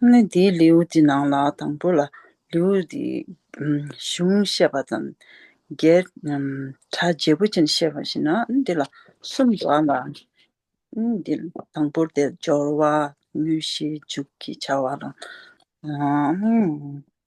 ལྷ་མོ་དེའི་ལེའུ་སྟེ་ནང་ལ་དང་པོ་ལ་ལེའུ་སྟེ་གཞུང་བཤད་པ་དང། བརྒྱད། གྲ་རྒྱས་པོ་ཅན་བཤད་པ་བཞིན་ནོ། འདི་ལ་གསུམ་པ་ལ། འདི་ལ་དང་པོར་དེ་སྦྱོར་བ་དངོས་གཞིའི་མཇུག་གི་བྱ་བ་དང།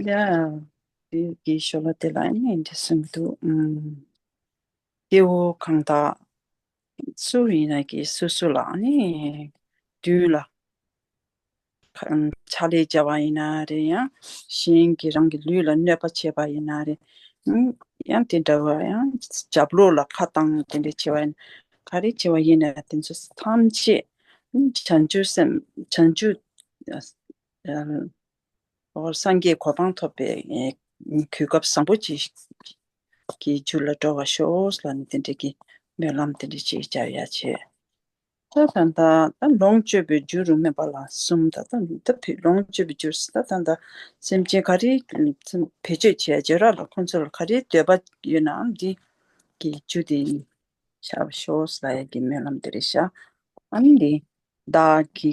ཡང་དེ་དེའི་ཞོར་ལ་དེ་ལ་ཨེ་ནས་འདི་གསུངས་འདུག་སྐྱེ་བོ་གང་དག་སུ་ཡིན་ན་གི་སུ་སུ་ལ་ནི་དུས་ལ་ཆ་ལས་བྱ་བ་ཡིན་ན་རེ་ཡང་གཞན་གྱི་རང་གི་ལུས་ལ་གནོད་པ་བྱེད་པ་ཡིན་ན་རེ་ཡང་དེ་འདྲ་བ་ཡང་ཇབ་ལོག་ལ་ཁ་བཏང་ནས་དེ་འདྲ་བྱེད་པ་ཡིན་ག་རེ་བྱེད་པ་ཡིན་ན་དེ་ཚོ་ཐམས་ཅད་བྱང་ཆུབ་སེམས་བྱང་ཆུབ་སངས་རྒྱས་གོ་འཕང་ཐོབ་པའི་གུས་སྐབས་བཟང་པོ་གཅིག་གི་རྒྱུད་ལ་འགྲོ་བར་ཤོག་ལ་ནི་དེ་འབྲེལ་གྱི་སྨོན་ལམ་དེ་འབྲེལ་ཅིག་ཅར་ཡང་བྱས། ད་ད་ད་ད་ལོངས་སྤྱོད་པའི་རྒྱུ་རུ་སྨོན་པ་ལ་གསུམ་ད་ད་ད་ཕུད་ལོངས་སྤྱོད་པའི་རྒྱུར་ད་ད་ད་སེམས་ཅན་ག་རེ་བེད་སྤྱོད་བྱས་རྗེས་རག་ལ་ཁོ་ཚོ་ལ་ག་རེའི་འདོད་པ་ཡོད་ནའང་འདི་གི་རྒྱུ་དེ་ཡིན་བྱ་བར་ཤོག་ལ་ཡང་གྱི་སྨོན་ལམ་དེ་རེ་བྱ། ཨ་ནི་འདི་བདག་གི་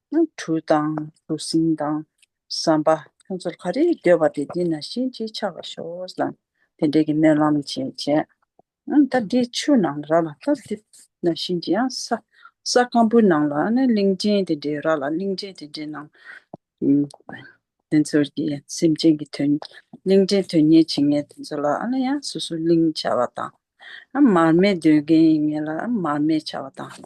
སྣམ་བུ་དང་གྲུ་གཟིངས་དང་ཟམ་པ་ཁྱོད་ཚོར་ག་རེ་འདོད་པ་དེ་འདི་ན་བཞིན་ཅིག་ཆགས་པར་ཤོག་ཟེར་ནས་དེ་འདྲའི་སྨོན་ལམ་བྱས། ད་འདི་ཆུ་ནང་ར་ལ་ད་འདི་ན་བཞིན་ཅིག་ཡང་ས་སྐམ་པོའི་ནང་ལ་གླིང་ཆེན་དེ་འདྲའི་ར་ལ་གླིང་ཆེན་དེ་འདྲའི་ནང་དེ་ཚོར་གྱི་སེམས་ཅན་གྱི་དོན་གླིང་ཆེན་དོན་གཉེར་བྱེད་མཁན་དེ་ཚོ་ལ་ཡང་སོ་སོའི་གླིང་བྱ་བ་དང། མར་མེ་འདོན་མཁན་ཡིན་ངེས་ལ་མར་མེ་བྱ་བ་དང།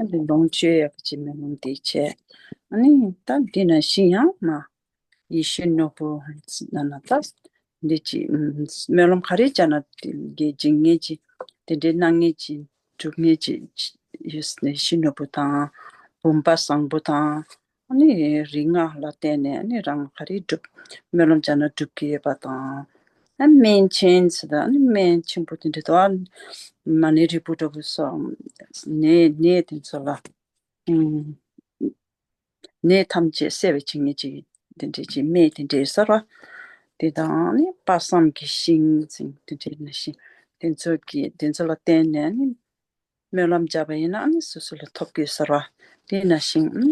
ཨ་ལི་ལོངས་སྤྱོད་ཡབ་ཀྱི་མེ་ལོང་འདི་བྱས། ཨ་ནི་སྟབས་འདི་ན་ཤི་ཡང་མ། ཡེ་ཤེས་ནོར་བུ་ན་ན་ཏཱ། འདི་བགྱིས། སྨོན་ལམ་ག་རེ་བྱ་ན་དགེ་སྦྱིན་ངེས་ཀྱི། དེ་འདྲའི་སྣང་ངེས་ཀྱི། སྒྲུབ་ངེས་ཀྱི། ཡེ་ཤེས་ནོར་བུ་དང། བུམ་པ་བཟང་པོ་དང། རིག་སྔགས་ལ་བརྟེན་ནས་རང་ག་རེ་བསྒྲུབ། སྨོན་ལམ་བྱ་ན་སྒྲུབ་ཀྱི་ཡོད་པ་དང། སྨན་ཆེན་ཟེར་དང་སྨན་ཆེན་པོ་དེ་འདྲ་དང། མ་ནི་རིལ་བུ་འདྲ་བོ་སོགས་ནད་དེ་ཚོ་ལ། ནད་ཐམས་ཅད་བསལ་བའི་བྱིན་ཉེ་ཅིག་དེ་འདྲས་ཀྱི་སྨན་དེ་འདྲས་གསར་བ། དེ་དང་ནི་དཔག་བསམ་གྱི་ཤིང་དེ་འདྲས་ནས་ཤིང་དེ་ཚོ་གི་དེ་ཚོ་ལ་བརྟེན་ནས་ནི། སྨོན་ལམ་བརྒྱབ་པ་ཡིན་ནའང་སོ་སོ་ལ་ཐོབ་དགོས་ཟེར་བ་དེ་ན་ཞིང།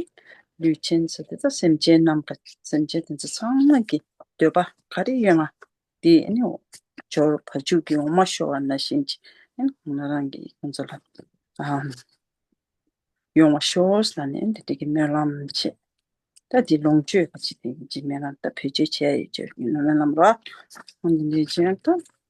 ལུས་ཅན་ཟེར་དེ་དག་སེམས་ཅན་རྣམས་དང་སེམས་ཅན་དེ་ཚོ་ཚང་མ་གི་འདོད་པ་ག་རེ་ཡོད་ང་དེ་ནི་འབྱོར་བ་འཇུག་གི་འོ་མ་ཤོར་བ་ན་བཞིན་གྱིས་ང་རང་གི་ཁོང་ཚོ་ལ་ཡོང་བ་ཤོར་ཟེར་ནས་དེ་དག་གི་སྨོན་ལམ་བྱེད། ད་དེ་ལོངས་སྤྱོད་ཀྱི་ཆེད་དུ་ཡིན་གྱི་སྨོན་ལམ་ད་བེད་སྤྱོད་བྱས་ཡོད་ཅེས་སྨོན་ལམ་རོགས།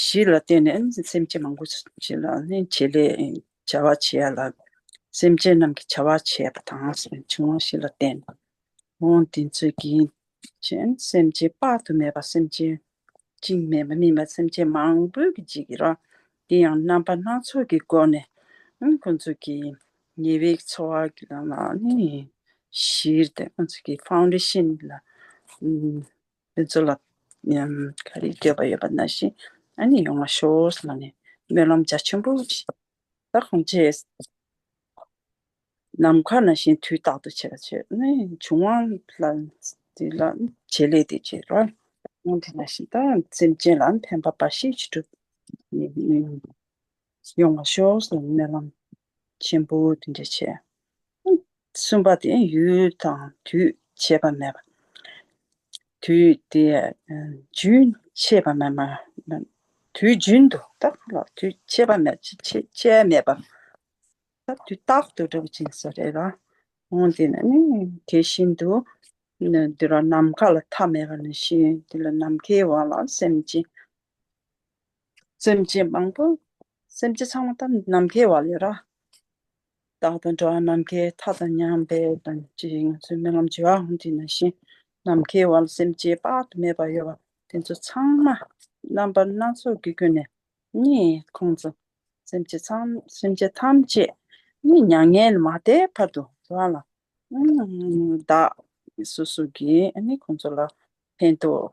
གཞི་ལ་བརྟེན་ནས་སེམས་ཅན་མང་པོ་ཞིག་ལ་ནི་བྱེད་ལས་བྱ་བ་བྱེད་ཡ་ལ། སེམས་ཅན་རྣམས་ཀྱི་བྱ་བ་བྱེད་པ་དང་འབྱུང་བ་བཞི་ལ་བརྟེན་ནས་ཨོ་འདི་ཚོས་ཀྱིས་ཤིང་སེམས་ཅན་དཔག་ཏུ་མེད་པ་སེམས་ཅན་གཅིག་མེད་པ་སྨིན་པ་སེམས་ཅན་མང་པོའི་གྱི་འཇིག་ར་འདི་ཡང་རྣམ་པ་སྣ་ཚོགས་ཀྱི་སྒོ་ནས་ཁོ་ཚོ་གྱི་ཉེ་བའི་འཚོ་བ་གི་ལ་ནི་གཞིར་བརྟེན་ཁོ་ཚོ་གྱི་ཕའོ་འདི་ཤིན་ལ་དེ་ཚོ་ལ་ག་རེ་འདོད་པ་ཡོད་པ་ན་བཞིན་ཨ་ནི་ཡོང་བ་ཤོག་ཟེར་ནས་སྨོན་ལམ་རྒྱ་ཆེན་པོ་བྱས། ད་གང་བྱེད། ནམ་མཁའ་ན་བཞིན་དུས་རྟག་ཏུ་བྱེད་ལ་བྱེད་ནི་འབྱུང་བ་ལ་དེ་ལ་བྱེད་ལས་དེ་བྱེད་ལ། དེ་ན་བཞིན་ད་སེམས་ཅན་ལ་ཕན་པ་འབའ་ཞིག་ཅི་འགྲུབ། ཡོང་བ་ཤོག་ཟེར་སྨོན་ལམ་ཆེན་པོ་དེ་འདྲ་བྱས། གསུམ་པ་དེ་ཡུལ་དང་དུས་བྱེད་པ་མེད་པ། དུས་དེ་རྒྱུན་ཆད་པ་མེད་མ། དུས་རྒྱུན་དུ་རྟག་ཏུ་ལ་དུས་ཆད་པ་མེད་ཆད་མེད་པ། དུས་རྟག་ཏུ་སྒྲུབ་ཅིང་སོགས་རེད་ལ། འོན་ཏེ་ན་ནི་དེ་བཞིན་དུ། འདི་ལ་ནམ་མཁའ་ལ་མཐའ་མེད་པ་ནི་ཞེས་འདི་ལ་ནམ་མཁའི་དབང་ལ་སེམས་ཅན། སེམས་ཅན་མང་པོ་སེམས་ཅན་ཚང་མ་ད་ནམ་མཁའི་བ་ལས་ར། བདག་དང་འདྲ་བ་ནམ་མཁའི་མཐའ་དང་མཉམ་པས་དང་ཅི་ཡང་ང་ཚོའི་རྨི་ལམ་བྱེ་བ་ཧོན་ཏི་ན་བཞིན་ནམ་མཁའི་བ་ལ་སེམས་ཅན་དཔག་ཏུ་མེད་པ་ཡོད་པ་དེ་ཚོ་ཚང་མ་རྣམ་པ་སྣ་ཚོགས་ཀྱི་ཀུན་ནས་རྨིས་ཁོང་ཚོ་སེམས་ཅན་ཚང་སེམས་ཅན་ཐམས་ཅད་རྨིས་མྱ་ངན་ལས་མ་འདས་བར་དུ་བ་ལ་བདག་སོ་སོ་གིས་རྨིས་ཁོང་ཚོ་ལ་ཕན་ཐོགས།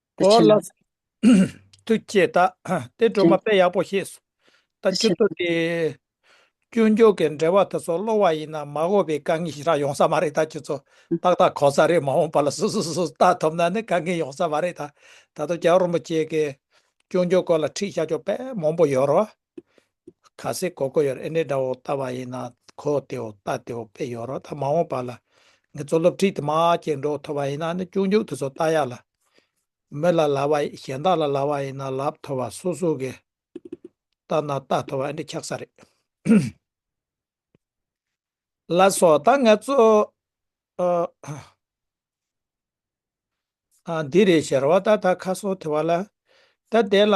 དེ་ཕྱིན་ན། ཐུགས་བསྐྱེད་བདག། དེ་སྒྲོལ་མ་དཔེ་ཡག་པོ་ཤེས་སོ། ད་ཁྱོད་ཚོ་དེ། སྐྱོན་བརྗོད་ཀྱི་འགྲེལ་བ་དེ་ཚོ་གློ་བ་ཡིན་ན་མ་གོ་བའི་དཀའ་ངལ་ཞིག་རག་ཡོང་ས་མ་རེད་ད་ཁྱོད་ཚོ་ཏག་ཏག་གོ་ས་རེད་མ་འོངས་པ་ལ་སོ་སོ་སོ་ལྟ་ཐུབ་ན་ནི་དཀའ་ངལ་ཡོང་ས་མ་རེད་ད། ད་དུང་རྒྱ་རོགས་རིན་པོ་ཆེ་གི་སྐྱོན་བརྗོད་སྐོར་ལ་ཁྲིད་བྱ་ཆོག་པས་མང་པོ་ཡོད་རོགས། ག་སེ་གོ་གོ་ཡོར་ཨེ་འདྲེ་འདྲ་བོ་ལྟ་བ་ཡིན་ན་གོ་དེ་འོ་ལྟ་དེ་འོ་པེ་ཡོར་རོ་ད་མ་འོངས་པ་ལ་ངེད་ཚོ་སློབ་ཁྲིད་དུ་མ་སྐྱེལ་འགྲོ་ཐོབ་པ་ཡིན་ན་ནི་ཅུང་ཅུང་དེ་ཚོ་ལྟ་ཡག་ལ། མི་ལ་ལ་བ་གཞན་དག་ལ་ལ་བ་ཡིན་ན་ལབ་ཐོབ་པ་སོ་སོ་གི་ལྟ་ན་ལྟ་ཐོབ་པ་ཨེ་འདྲེ་ཁྱག་ས་རེད། ལ་སོགས་ད་ངེད་ཚོ་འདི་རེད་ཞེས་ར་བ་ད་ད་ཁ་སོ་དེ་བ་ལ་ད་དེ་ལ།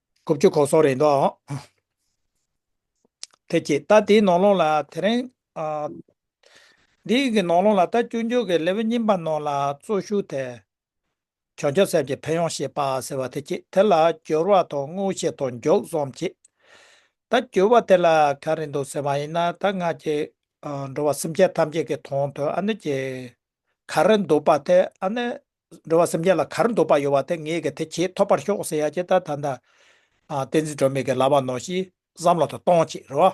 ཀོ་བཅུ་གོ་སོང་རེད་འདུག་ཨང། ཐེ་ཅི། ད་དེའི་ནང་ལོང་ལ་དེ་རིང། འདིའི་གི་ནང་ལོང་ལ་ད་བཅུ་མཇུག་གི་ལེ་བོ་གཉིས་པ་ནང་ལ་གཙོ་ཞུགས་ཐད། བྱང་ཆུབ་སེམས་ཀྱི་ཕན་ཡོང་ཞེས་པ་ཟེར་བ་དེ་ཅི་དེ་ལ་སྦྱོར་བ་དང་དངོས་བཤེར་དང་མགྱོགས་རྩོམ་བྱེད། ད་སྦྱོར་བ་དེ་ལ་ག་རེ་འདུག་ཟེར་བ་ཡིན་ན་ད་ང་ཀྱི། འགྲོ་བ་སེམས་ཅན་ཐམས་ཅད་ཀྱི་དོན་དུ་ཨ་ནི་ཀྱི། ག་རེ་འདུག་པ་དེ་ཨ་ནི་འགྲོ་བ་སེམས་ཅན་ལ་གར་འདོད་པ་ཡོད་པ་དེ་ངེད་ཀྱིས་དེ་བྱེད་ཐོབ་པར་ཤོག་ཟེར་ཡ་ཇི་ལྟར་ད་ལྟ། བསྟན་འཛིན་སྒྲོལ་མས་ཀྱི་ལབ་པ་ནོར་ཞིག་བསམ་བློ་དང་གཏོང་བྱེད་རོ།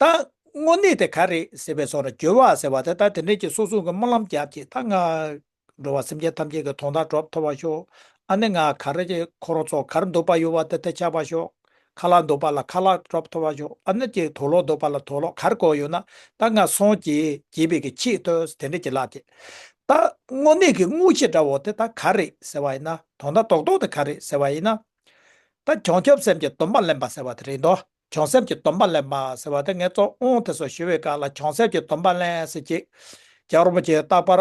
ད། དངོས་གནས་དེ་ག་རེད་ཟེར་བའི་ཚོགས་ལ་འགྱོད་བ་ཟེར་བ་དེ་ལྟར་དེ་འདྲས་ཀྱི་སོ་སྲུང་གི་སྨོན་ལམ་རྒྱབ་ཅིག་ད་ང། འགྲོ་བ་སེམས་ཅན་ཐམས་ཅད་ཀྱི་དོན་དག་གྲོབ་ཐོབ་པར་ཤོག་ཨ་ནི་ང་ག་རེ་ཁོ་རང་ཚོ་གར་འདོད་པ་ཡོད་པ་དེ་དེ་ཆགས་པར་ཤོག། ཁ་ལག་འདོགས་པ་ལ་ཁ་ལག་རབ་འཐོར་བ་ཞོག་ཨ་ན་ཀྱེ་དོ་ལོག་འདོགས་པ་ལ་དོ་ལོག་གར་གོ་ཡོད་ན་ད་ང་སོང་ཀྱེ་གྱེས་པའི་གྱི་ཁྱི་ཏོ་དེ་འདྲ་གྱི་ལགས་ཀྱེ། ད་དངོས་གནས་ཀྱི་དངུལ་ཆེ་འདྲ་བོ་དེ་ད་ག་རེད་ཟེར་བ་ཡིན་ན་དོ་ད་དོག་དོག་དེ་ག་རེད་ཟེར་བ་ཡིན་ན། ད་གྱོང་ཁྱོབ་སེམས་ཀྱི་སྡོམ་པ་ལེན་པ་ཟེར་བ་དེ་རེད་དོ་གྱོང་སེམས་ཀྱི་སྡོམ་པ་ལེན་པ་ཟེར་བ་དེ་ངས་བཙོག་ཨོང་དེ་སོ་ཞུ་བའི་སྐབས་ལ་གྱོང་སེམས་ཀྱི་སྡོམ་པ་ལེན་ཟེར་ཀྱེ། རྒྱ་རོ་པ་ཀྱེ་རྟག་པར་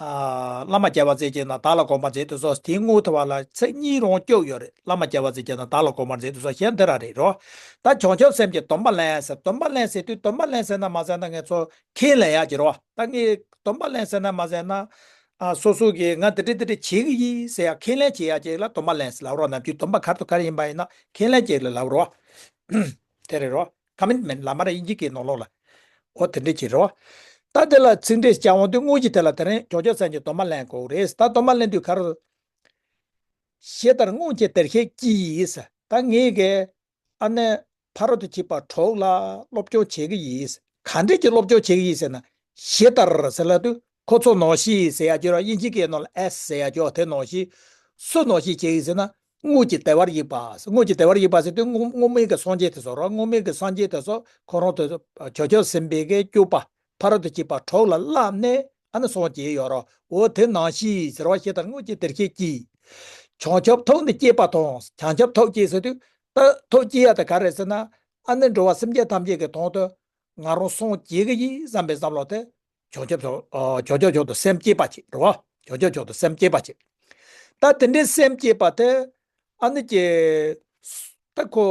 བླ་མ་རྒྱལ་བ་རྩེ་གཅིག་ན་བདག་ལ་དགོངས་པར་མཛད་དུ་གསོལ་དེའི་སྔོན་ཐོ་བ་ལ་ཚེ་གཉིས་རོང་སྐྱོབ་ཡོད་རེད་བླ་མ་རྒྱལ་བ་རྩེ་གཅིག་ན་བདག་ལ་དགོངས་པར་མཛད་དུ་གསོལ་ཞེས་འདི་ར་རེད་རོ། ད་བྱང་ཆུབ་སེམས་ཀྱི་སྡོམ་པ་ལེན་ཟེར་སྡོམ་པ་ལེན་ཟེར་དུས་སྡོམ་པ་ལེན་ཟེར་ན་མ་ཟེར་ན་ངས་ཚོ་ཁེངས་ལེན་ཡག་གྱི་རོ་ད་ངས་སྡོམ་པ་ལེན་ཟེར་ན་མ་ཟེར་ན། སོ་སོ་གིས་ང་འདི་འདྲི་འདི་འདྲི་བྱེད་ཀྱི་ཡིན་ཟེར་ཡག་ཁེངས་ལེན་བྱེད་ཡག་ཅིག་ལ་སྡོམ་པ་ལེན་ཟེར་ལབ་རོགས་ནམ་རྒྱུན་སྡོམ་པ་གར་དུ་གར་ཡིན་པ་ཡིན་ན་ཁེངས་ལེན་བྱེད་ལ་ལབ་རོགས། དེ་རེད་རོགས། Commitment། ལ་མ་ར་ཡིན་གྱི་གི་ནོར་ལོག་ལ། འོ་དེ་འདྲས་ཀྱི་རེད། ད་དེ་ལ་ཚིག་འགྲེལ་བྱ་འོང་དུས་དངོས་གཞི་དེ་ལ་དེ་རིང་ཇོ་ཇོ་ཚན་གྱི་དོ་མ་ལེན་གོ་རེད་ད་དོ་མ་ལེན་དུས་ག་རུ། ཞེས་ལྟར་སྔོན་ཁྱེད་དེར་ཤེས་ཀྱིས། ད་ངས་ཀྱི། ཨ་ནེ། ཕ་རོ་དུ་གྱི་པ་གྲོགས་ལ་སློབ་སྐྱོར་བྱེད་ཀྱི་ཡིས། ག་འདྲས་ཀྱི་སློབ་སྐྱོར་བྱེད་ཀྱི་ཡིས་ཟེར་ན། ཞེས་ལྟར་ཟེར་ལ་དུས་ཁོ་ཚོ་ནོར་ཤི་ཟེར་ཡ་གྱི་ར་ཡིན་གྱི་གི་ནོར་ལ་ཨེས་ཟེར་ཡ་གྱོ་དེ་ནོར་ཤི། སུ་ནོར་ཤི་བྱེད་ཡིས་ཟེར་ན། དངོས་ཀྱི་བདེ་བར་ཡིད་པ། དངོས་ཀྱི་བདེ་བར་ཡིད་པ་ཟེར་དུས་དངོས་མིན་གྱི་སངས་རྒྱས་དེ་སོགས་རོ། དངོས་མིན་གྱི་སངས་རྒྱས་དེ་སོགས་གང་རུང་དུ། བྱོལ་བྱོལ་ཟིན་པའི་གེ་སྐྱུགས་པ། ཕ་རོལ་ཏུ་སྐྱིད་པ་གྲོགས་ལ་བླ་གནས་ཨ་ནི་སངས་རྒྱས་ཡོད་རོ། འོ་དེ་ནང་བཞི་ཟེར་བ་ཞེས་དང་དངོས་ཀྱི་བདེར་ཁྱེད་ཀྱིས། བྱང་ཆུབ་ཐོབ་ནི་སྐྱེས་པ་དང་བྱང་ཆུབ་ཐོབ་སྐྱེས་ཟེར་དུས། ཐོབ་སྐྱེས་ཡ་དེ་ག་རེད་ཟེར་ན། ཨ་ནི་འགྲོ་བ་སེམས་ཅན་ཐམས་ཅད་ཀྱི་དོན་དུ། ང་རང་སངས་རྒྱས་ཀྱི་ཡིད་བསམ་པའི་བསམ་བློ་དེ། ཇོ་ཇོ་ཇོ། ཇོ་ཇོ་ཇོ་དང་སེམས་བསྐྱེད་པ་གཅིག་རོ། ཇོ་ཇོ་ཇོ་དང་སེམས་བསྐྱེད་པ་གཅིག། ད་དེ་འདྲའི་སེམས་བསྐྱེད་པ་དེ། ཨ་ནི་ཀྱེ། ད་ཁོ།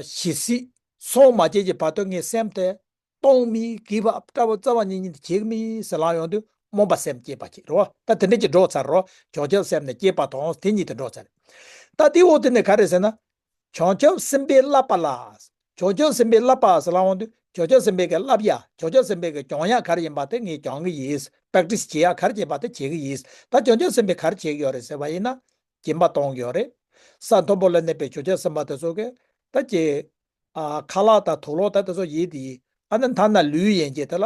ཞི་སྲིད། སོང་མ་བྱེད་ཀྱི་བར་དུ་ངའི་སེམས་དེ། སྟོང་མི་གི་བ་པྲ་བ་རྩ་བ་ཉིད་ཉིད་དུ་གྱེས་མི་ཟེར་ལམ་ཡོང་དུས་རྨོངས་པ་སེམས་བསྐྱེད་པ་གཅིག་རོ། ད་དེ་འདྲའི་གཅིག་འགྲོ་ཚར་རོ། ཇོ་ཇོ་སེམས་ནས་བསྐྱེད་པ་དང་དེ་ཉིད་དུ་འགྲོ་ཚར། ད་དེའི་འོག་ཏུ་ནི་ག་རེ་ཟེར་ན། བྱང་ཆུབ་སེམས་དཔའི་བསླབ་པ་ལ། བྱང་ཆུབ་སེམས་དཔའི་བསླབ་པ་ཟེར་ལམ་དབང་དུ་བྱང་ཆུབ་སེམས་དཔའི་གི་བསླབ་ཡ་བྱང་ཆུབ་སེམས་དཔའི་གི་སྦྱོང་ཡ་གར་ཡིན་པ་དེ་ངས་སྦྱང་གི་ཡིན། Practice བྱེད་ཡ་གར་བྱེད་པ་དེ་བྱེད་གི་ཡིན། ད་བྱང་ཆུབ་སེམས་དཔའི་གར་བྱེད་གི་ཡོད་རེད་ཟེར་བ་ཡིན་ན། སྦྱིན་པ་གཏོང་གི་ཡོད་རེད། ས་མཐོན་པོ་ལ་གནས་པའི་བྱང་ཆུབ་སེམས་དཔའ་དེ་ཚོ་གི། ད་ཀྱེ། ཁ་ལག་དང་ཐུགས་ལོག་དང་དེ་ཚོ་ཡིད་དེ་ཡིན། ཨ་ན་ད་ན་ལུས་ཡན་ཆད་དེ་ལ་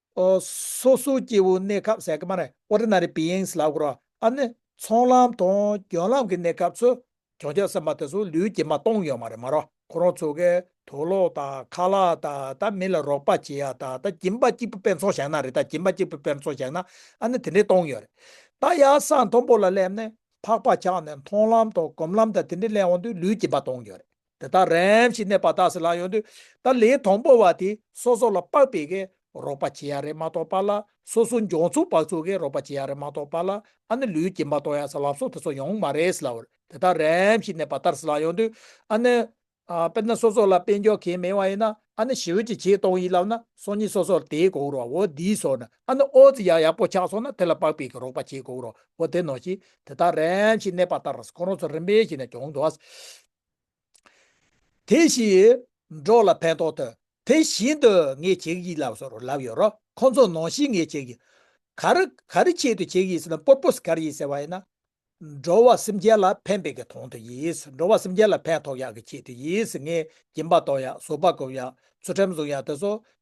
སོ་སོའི་སྐྱེ་བོའི་གནས་སྐབས་ཟད་ཀ་མ་རེད Ordinary Beings ལ་གོ། ཨ་ནི། ཚོང་ལམ་དང་རྒྱུན་ལམ་གྱི་གནས་སྐབས་སུ། གྱོང་རྒྱག་སེམས་པ་དེ་ཚོ་ལུས་ཀྱིས་མ་གཏོང་ཡོད་མ་རེད་མ་རོགས་ཁོ་རང་ཚོ་གས་དོ་ལོག་དང་ཁ་ལག་དང་ད་མི་ལ་རོགས་པ་བྱེད་ཡག་དང་ད་གྱིན་པ་གཅིག་པུ་དཔེར་འཚོང་བཞག་ན་རེད་ད་གྱིན་པ་གཅིག་པུ་དཔེར་འཚོང་བཞག་ན་ཨ་ནི་དེ་འདྲས་གཏོང་ཡོད་རེད། ད་ཡག་ས་མཐོན་པོ་ལ་སླེབས་ནས་ཕག་པ་ཆགས་ནས་མཐོང་ལམ་དང་གོམ་ལམ་དང་དེ་འདྲས་སླེབས་འོང་དུས་ལུས་ཀྱིས་མ་གཏོང་ཡོད་རེད། དེ་དག་རེམ་ཞིག་གནས་པ་དག་སེ་ལ་ཡོང་དུས་ད་ལེའི་དང་པོ་བ་དེ་སོ་སོ་ལ་དཔག་པའི་གེ་རོགས་པ་བྱེད་ཡ་རེ་མ་གཏོགས་པ་ལ་སོ་སོ་འཇོག་ཚུགས་དཔག་ཚུགས་གེ་རོགས་པ་བྱེད་ཡ་རེ་མ་གཏོགས་པ་ལ་ཨ་ནི་ལུས་ཀྱིས་མ་གཏོགས་ཡ་ས་ལབ་སོ་དེ་ཚོ་ཡོང་གི་མ་རེད་སེ་ལ་འོད་དེ་དག་རེམ་ཞིག་གནས་པ་དར་སེ་ལ་ཡོང་དུས་ཨ་ནི། དཔེར་ན་སོ་སོ་ལ་དཔེ་འཇོག་གེ་མེད་བ་ཡིན་ན་ཨ་ནི་ཞི་འོད་ཀྱི་ཆེད་གཏོང་ཡིན་ལབ་ན་སོ་གཉིས་སོ་སོར་དེའི་གོ་རོ་བོ་དེའི་སོ་ནི་ཨ་ནི་ཨོ་ཙི་ཡ་ཡག་པོ་ཆགས་སོང་ན་དེ་ལ་དཔག་པའི་གེ་རོགས་པ་བྱེད་གོ་རོ་བོ་དེ་ནོ་ཞིག་དེ་དག་རེམ་ཞིག་གནས་པ་དར་ཁོ་རང་ཚོ་རིམ་པས་ཞིག་ནས་གྱོང་དུ་ཨ་སེ་དེ་བཞིན་འབྲོག་ལ་ཕན་ཐོགས་དོན་དེ་བཞིན་དུ་ངས་བྱེད་ཀྱི་ཡིན་ལབ་སོ་ལབ་ཡོད་རོགས་ཁོང་ཚོ་ནང་བཞིན་ངས་བྱེད་ཀྱི། ག་རེ་ག་རེ་ཆེད་དུ་བྱེད་ཀྱི་ཟེར་ན purpose ག་རེ་ཡིན་ཟེར་བ་ཡིན་ན། འགྲོ་བ་སེམས་ཅན་ལ་ཕན་པའི་གི་དོན་དུ་ཡིན། འགྲོ་བ་སེམས་ཅན་ལ་ཕན་ཐོགས་ཡག་གི་ཆེད་དུ་ཡིན། ངས་སྦྱིན་པ་གཏོང་ཡག་བཟོ་པ་སྒོམ་ཡག་ཚུལ་ཁྲིམས་བཟུང་ཡག་དེ་ཚོ་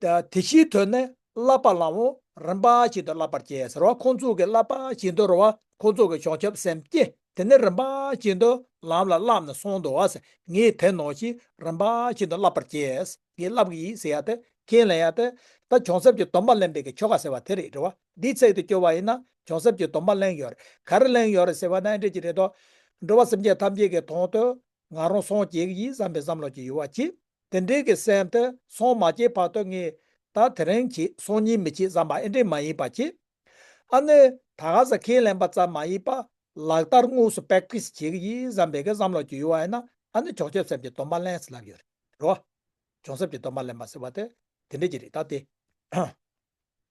དེ་ཕྱིའི་དོན་ནི་བསླབ་པ་ལའང་རིམ་པ་བཞིན་དུ་བསླབ་པར་བྱའི་ཟེར་བ་ཁོང་ཚོ་གི་བསླབ་པ་བཞིན་དུ་རོལ་བ་ཁོང་ཚོ་གི་བྱང་ཆུབ་སེམས་བསྐྱེད་དེ་ནི་རིམ་པ་བཞིན་དུ་ལམ་ལ་བསླབ་ནས་སོང་འདུག་བ་སེ་ངས་དེ་ནོར་ཞིག་རིམ་པ་བཞིན་དུ་བསླབ་པར་བྱས་ངས་བསླབ་གི་ཡིན་ཟེར་ཡག་སྟེ་ཁས་ལེན་ཡག་སྟེ། ད་བྱང་སེམས་ཀྱི་སྡོམ་པ་ལེན་པའི་གི་ཆོ་ག་ཟེར་བ་དེ་རེད་རེད་བ་འདིའི་ཚིག་དེ་སྐྱོ་བ་ཡིན་ན་བྱང་སེམས་ཀྱི་སྡོམ་པ་གླེང་ཡོད་རེད་ག་རེ་གླེང་ཡོད་རེད་ཟེར་བ་ནི་འགྲིག་གི་རེད་དོ། འགྲོ་བ་སེམས་ཅན་ཐམས་ཅད་ཀྱི་དོང་དུ་ང་རང་སོང་བྱེད་གི་ཡིན་བསམ་པའི་བསམ་བློ་ཅིག་ཡོད་བ་གཅིག། དེ་འབྲེལ་གྱི་སེམས་དེ་སོང་མ་སྐྱེས་བར་དུ་ངས་ད་དེ་རིང་གྱིས་སོང་གཉིད་མི་ཆེས་ཟ་མ་ཨེ་འདྲེས་མ་ཡིན་པ་གྱིས། ཨ་ནི་ད་ག་ཟེ་ཁས་ལེན་པ་ཙམ་མ་ཡིན་པར་ལག་བསྟར་དངོས་སུ Practice བྱེད་ཀྱི་ཡིན་བསམ་པའི་གི་བསམ་བློ་གྱིས་ཡོད་བ་ཡིན་ན་ཨ་ནི་གྱོང་གཤེབས་སེམས་ཀྱི་སྡོམ་པ་ལེན་ཟེར་ལབ་ཡོད་རེད་རོ། གྱོང་གཤེབས་ཀྱི་སྡོམ་པ་ལེན་པ་ཟེར་བ་དེ་དེ་འདྲས་ཀྱི་རེད་ད་དེ།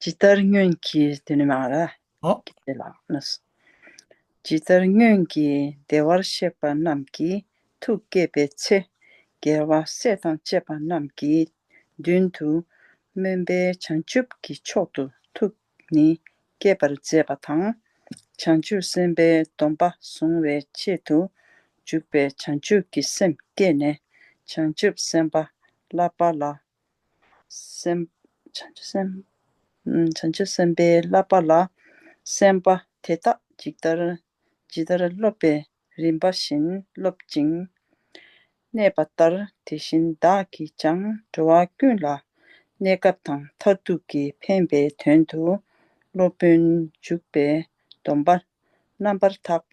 ཇི་ལྟར་སྨྱོན་གྱིས་འདི་ནི་མ་ར་ཀི་ཏི་ལགས་ན། ཇི་ལྟར་སྨྱོན་གྱིས་བདེ་བར་གཤེགས་པ་རྣམས་ཀྱི་ཐུགས་བསྐྱེད་པའི་ཚེ། རྒྱལ་བ་སྲས་དང་བཅས་པ་རྣམས་ཀྱི་མདུན་དུ་སྨོན་པའི་བྱང་ཆུབ་ཀྱི་མཆོག་ཏུ་ཐུགས་ནི་བསྐྱེད་པར་མཛད་པ་དང། བྱང་ཆུབ་སེམས་དཔའི་སྡོམ་པ་གཟུང་བའི་ཆེད་དུ་འཇུག་པའི་བྱང་ཆུབ་ཀྱི་སེམས་བསྐྱེད་ནས་བྱང་ཆུབ་སེམས་དཔའ་བསླབ་པ་ལ་བྱང་ཆུབ་སེམས་དཔའི་བསླབ་པ་ལ་སེམས་དཔའ་དེ་དག་ཇི་ལྟར་སློབ་པའི་རིམ་པ་བཞིན་སློབ་ཅིང་གནས་པ་ལྟར་དེ་བཞིན་བདག་གིས་ཀྱང་འགྲོ་བ་ཀུན་ལ་གནས་སྐབས་དང་མཐར་ཐུག་གི་ཕན་པའི་དོན་དུ་སློབ་དཔོན་འཇུག་པའི་སྡོམ་པ་རྣམ་པར་དག་པ་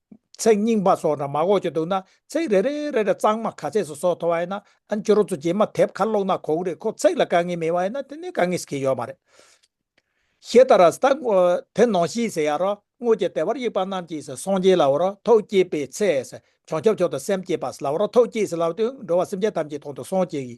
ཚེག་རྙིང་པ་སོགས་འདྲ་མ་གོ་ཆོད་འདུག་ན་ཚེག་རེ་རེའི་རེ་རེ་གཙང་མ་ག་ཚད་སུ་སོགས་མཐོ་བ་ཡིན་ན་ཨན་ཅོ་རོ་ཚོ་རྗེས་མ་དེབ་ཁ་ཀློག་ན་གོ་གི་རེད་ཁོ་ཚེག་ལ་དཀའ་ངལ་མེད་པ་ཡིན་ན་དེ་ནས་དཀའ་ངལ་གྱི་ཡོད་མ་རེད། ཞེས་ད་ར་ས་ད་ངོ་དེ་ནང་བཞིན་ཟེར་ཡ་རོ་སྔོ་ཀྱི་དེ་བར་དབྱིག་པ་རྣམས་ཀྱིས་སོ་སངས་རྒྱས་ལ་བ་རོ་ཐོག་སྐྱེས་པའི་ཚེ་ས་བྱང་ཆུབ་མཆོག་ཏུ་སེམས་བསྐྱེད་པ་ས་ལ་བ་རོ་ཐོག་སྐྱེས་ས་ལ་བ་དུས་འགྲོ་བ་སེམས་ཅན་ཐམས་ཅད་དོང་དུ་སངས་རྒྱས་ཀྱི།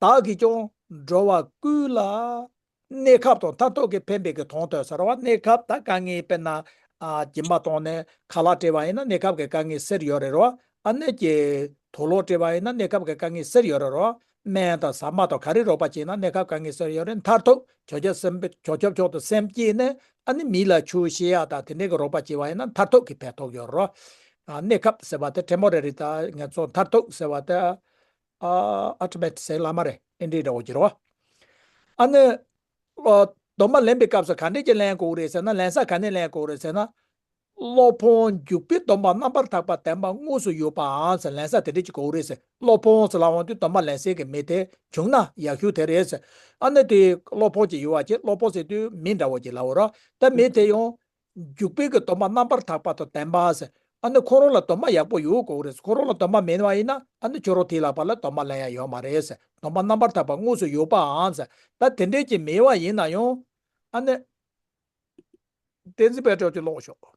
བདག་གིས་ཀྱང་འགྲོ་བ་ཀུན་ལ་གནས་སྐབས་དང་མཐའ་ཐུག་གི་ཕན་པའི་གི་དོན་དུ་ཟེར་བ་གནས་སྐབས་དང་དཀའ་ངལ་དཔེར་ན། སྦྱིན་པ་བཏང་ནས་ཁ་ལག་བྲེལ་བ་ཡིན་ན་གནས་སྐབས་ཀྱི་དཀའ་ངལ་སེལ་ཡོད་རེད་རོ། ཨ་ནེ་ཀྱི་དོ་ལོག་བྲེལ་བ་ཡིན་ན་གནས་སྐབས་ཀྱི་དཀའ་ངལ་སེལ་ཡོད་རེད་རོ། སྨན་དང་ཟ་མ་དང་ག་རེ་རོགས་པ་བྱས་ན་གནས་སྐབས་དཀའ་ངལ་སེལ་ཡོད་རེད་མཐར་ཐུག་གྱོ་གྱོ་སེམས་གྱོ་གྱོ་ཕྱོགས་དུ་སེམས་བསྐྱེད་ནས་ཨ་ནེ་མི་ལ་ཆུ་བཤལ་ཡག་དང་དེ་འདྲའི་གི་རོགས་པ་བྱས་བ་ཡིན་ན་མཐར་ཐུག་གི་ཕན་ཐོགས་ཡོད་རེད་རོ། གནས་སྐབས་ཟེར་བ་དེ་བྲེལ་མོ་རེད་རེད་ད་ངས་ཚོ་མཐར་ཐུག་ཟེར་བ་དེ། ཨ་ཨ་ཏི་མེད་ཟེགས་བླ་མ་རེད་ཨེ་འདྲས་འདྲ་བོ་གྱུར་བ། ཨ་ནི། གདོང་མ་ལེན་པའི་སྐབས་སུ་ག་འདྲས་ཀྱིས་ལེན་དགོས་རེད་ཟེར་ན་ལེན་ས་ག་ནས་ལེན་དགོས་རེད་ཟེར་ན། སློབ་དཔོན་འཇུག་པའི་གདོང་པ་རྣམ་པར་དག་པ་དེ་མ་དངོས་སུ་ཡོད་པའང་ལེན་ས་དེ་འདྲས་ཀྱིས་དགོས་རེད་ཟེར་སློབ་དཔོན་ཟེར་ལ་འོང་དུས་གདོང་པ་ལེན་སའི་གི་མི་དེ་བྱུང་ན་ཡག་ཤོས་དེ་རེད་ཟེར་ཨ་ནི་དེ་སློབ་དཔོན་གྱི་ཡོད་བ་ཀྱིས་སློབ་དཔོན་ཟེར་དུས་མི་འདྲ་བོ་གྱི་ལ་འོ་རོགས་ད་མི་དེ་ཡང་རྒྱུག་པའི་གི་དོ་མ་རྣམ་པར་དག་པ་དང་ལྡན་པ། ཨ་ནི་ཁོ་རང་ལ་དོ་མ་ཡག་པོ་ཡོད་དགོས་རེད་ཁོ་རང་ལ་དོ་མ་མེད་ན་ཡིན་ན་ཨ་ནི་ཁྱོད་རང་དེ་ལགས་པ་ལ་དོ་མ་ལ་ཡང་ཡོད་མ་རེད་དོ་མ་རྣམ་པར་དག་པ་དངོས་སུ་ཡོད་པའང་ད་དེ་འདྲས་ཀྱི་མེད་བ་ཡིན་ན་ཡང། ཨ་ནི། བསྟན་འཛིན་པད་སྒྲོགས་ཀྱིས་ཀློག་ཤོག།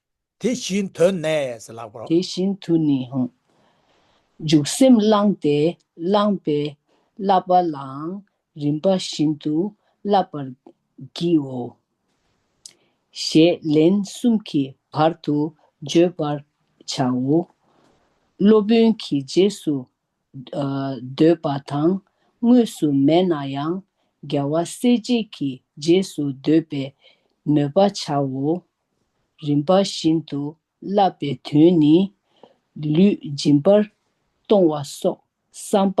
དེ་བཞིན་དུ་ནས་ལགས་པར། དེ་བཞིན་དུ་ནི་འང། འཇུག་སེམས་བླངས་ཏེ་བླངས་པའི་བསླབ་པ་ལའང་རིམ་པ་བཞིན་དུ་བསླབ་པར་བགྱིའོ། ཞེས་ལན་གསུམ་གྱི་བར་དུ་བརྗོད་པར་བྱའོ། སློབ་དཔོན་གྱི་རྗེས་སུ་ཟློས་པ་དང་དངོས་སུ་མེད་ན་ཡང་རྒྱལ་བ་སྲས་བཅས་ཀྱི་རྗེས་སུ་ཟློས་པའི་མོས་པ་བྱའོ། རིམ་པ་བཞིན་དུ་བསླབ་པའི་དོན་ནི། ལུས་སྦྱིན་པར་གཏོང་བ་སོགས་བསམ་པ་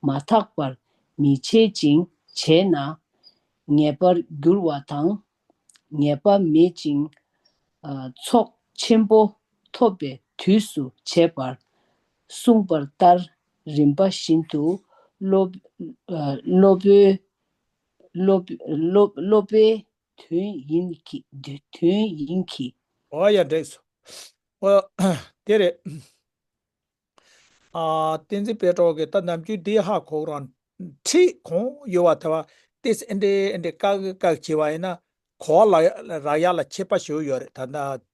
མ་ཐག་པར་མི་བྱེད་ཅིང་བྱས་ན། ངེས་པར་འགྱུར་བ་དང། ངེས་པ་མེད་ཅིང་ཚོགས་ཆེན་པོ་ཐོབ་པའི་དུས་སུ་བྱེད་པར་གསུངས་པར་ལྟར་རིམ་པ་བཞིན་དུ་སློབ་པའི་དོན་ཡིན་གྱི། ཨོ་ཡ་འགྲིགས་སོ། ཨོ། དེ་རེད། བསྟན་འཛིན་སྤེལ་གྲོགས་ཀྱིས་ད་ནམ་རྒྱུན་འདི་ཧ་གོ་རང་འཁྲིད་གོང་ཡོད་བ་དེ་བ་ཏིས་ཨེ་འདྲེ་ཨེ་འདྲེ་བཀག་གི་བཀག་བྱས་བ་ཡིན་ན་གོ་བ་རག་ཡག་ལ་ཁྱེད་པ་ཞུ་ཡོད་རེད་ད།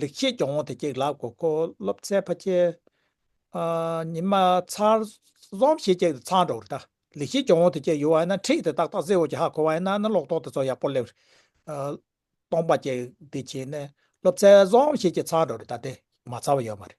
ལེགས་བྱས་སྐྱོང་བོ་དེ་སྐྱེགས་ལགས་གོ་གོ་སློབ་ཚའི་ཕ་ཁྱེད། ཉི་མ་ཚར་རྫོང་བྱེད་སྐྱེགས་དེ་ཚང་འགྲོ་རེད་ད་ལེགས་བྱས་སྐྱོང་བོ་དེ་སྐྱེགས་ཡོ་བ་ཡིན་ན་འཁྲིད་དེ་ཏག་ཏག་ཟེ་འོ་ཀྱི་ཧ་གོ་བ་ཡིན་ན་ནི་ལོག་རྟོག་དེ་ཚོ་ཡག་པོ་སླེབས་རེད་སྟོང་པ་སྐྱེགས་དེ་བྱེད་ནས་སློབ་ཚའི་རྫོང་བྱེད་སྐྱེགས་ཚང་འགྲོ་རེད་ད་དེ་མ་ཚར་བ་ཡོད་མ་རེད།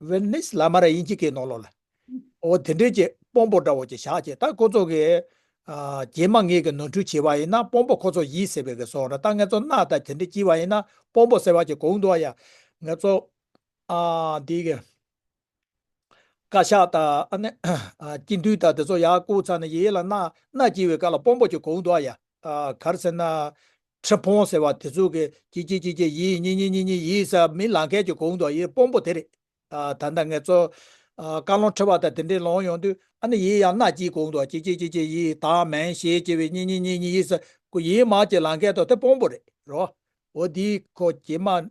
བན་ནི་སི་ལ་མ་ར་ཡིན་གྱི་གའི་ནོར་ལོ་ལ། འོ་དེ་འདྲའི་ཀྱི་སྤོམ་པོ་འདྲ་བོ་ཀྱི་ཞག་ཅིག་ད་ཁོ་ཚོ་གི། རྗེས་མ་ངེད་ཀྱི་ནོར་འཁྲུལ་བྱས་པ་ཡིན་ན་སྤོམ་པོ་ཁོ་ཚོ་ཡིད་ཟེར་བའི་གི་སོང་ར་ད་ངེད་ཚོ་སྣ་ད་དེ་འདྲའི་སྐྱིད་བ་ཡིན་ན་སྤོམ་པོ་ཟེར་བ་ཀྱི་གོང་དུ་ཡ། ངེད་ཚོ། འདི་གི། བཀའ་ཤག་ད་ཨ་ནི། སྐྱིད་འདུས་ད་དེ་ཚོ་ཡ་སྐུ་ཚ་ནི་ཡེ་ཡེ་ལ་སྣ་སྣ་སྐྱིད་བའི་ག་ལ་སྤོམ་པོ་ཀྱི་གོང་དུ་ཡ། གར་ཟེར་ན། ཁྲི་སྤོང་ཟེར་བ་དེ་ཚོ་གི་ཀྱེ་ཀྱེ་ཀྱེ་ཀྱེ་ཡིས་ཉི་ཉི་ཉི་ཉི་ཡིས་ས་མི་ལང་མཁན་གྱི་གུང་ཐོག་ཡིས་སྤོང་པོ་དེ་རེད། ད་ལྟ་ངས་ཚོ། བཀའ་བློན་ཁྲི་བ་དང་དེ་འདྲས་ལོང་ཡོང་དུས་ཨ་ནི་ཡིས་ཡང་སྣ་གྱིས་གུང་ཐོག་ཀྱེ་ཀྱེ་ཀྱེ་ཀྱེ་ཡིས་ད་མན་ཞེས་ཀྱེ་བའི་ཉི་ཉི་ཉི་ཉི་ཡིས་ས་ཀུ་ཡིས་མ་ཀྱེ་ལང་མཁན་ཐོག་དེ་སྤོང་པོ་རེད་རོ། འོ་འདི་ཁོ་ཀྱེ་མ།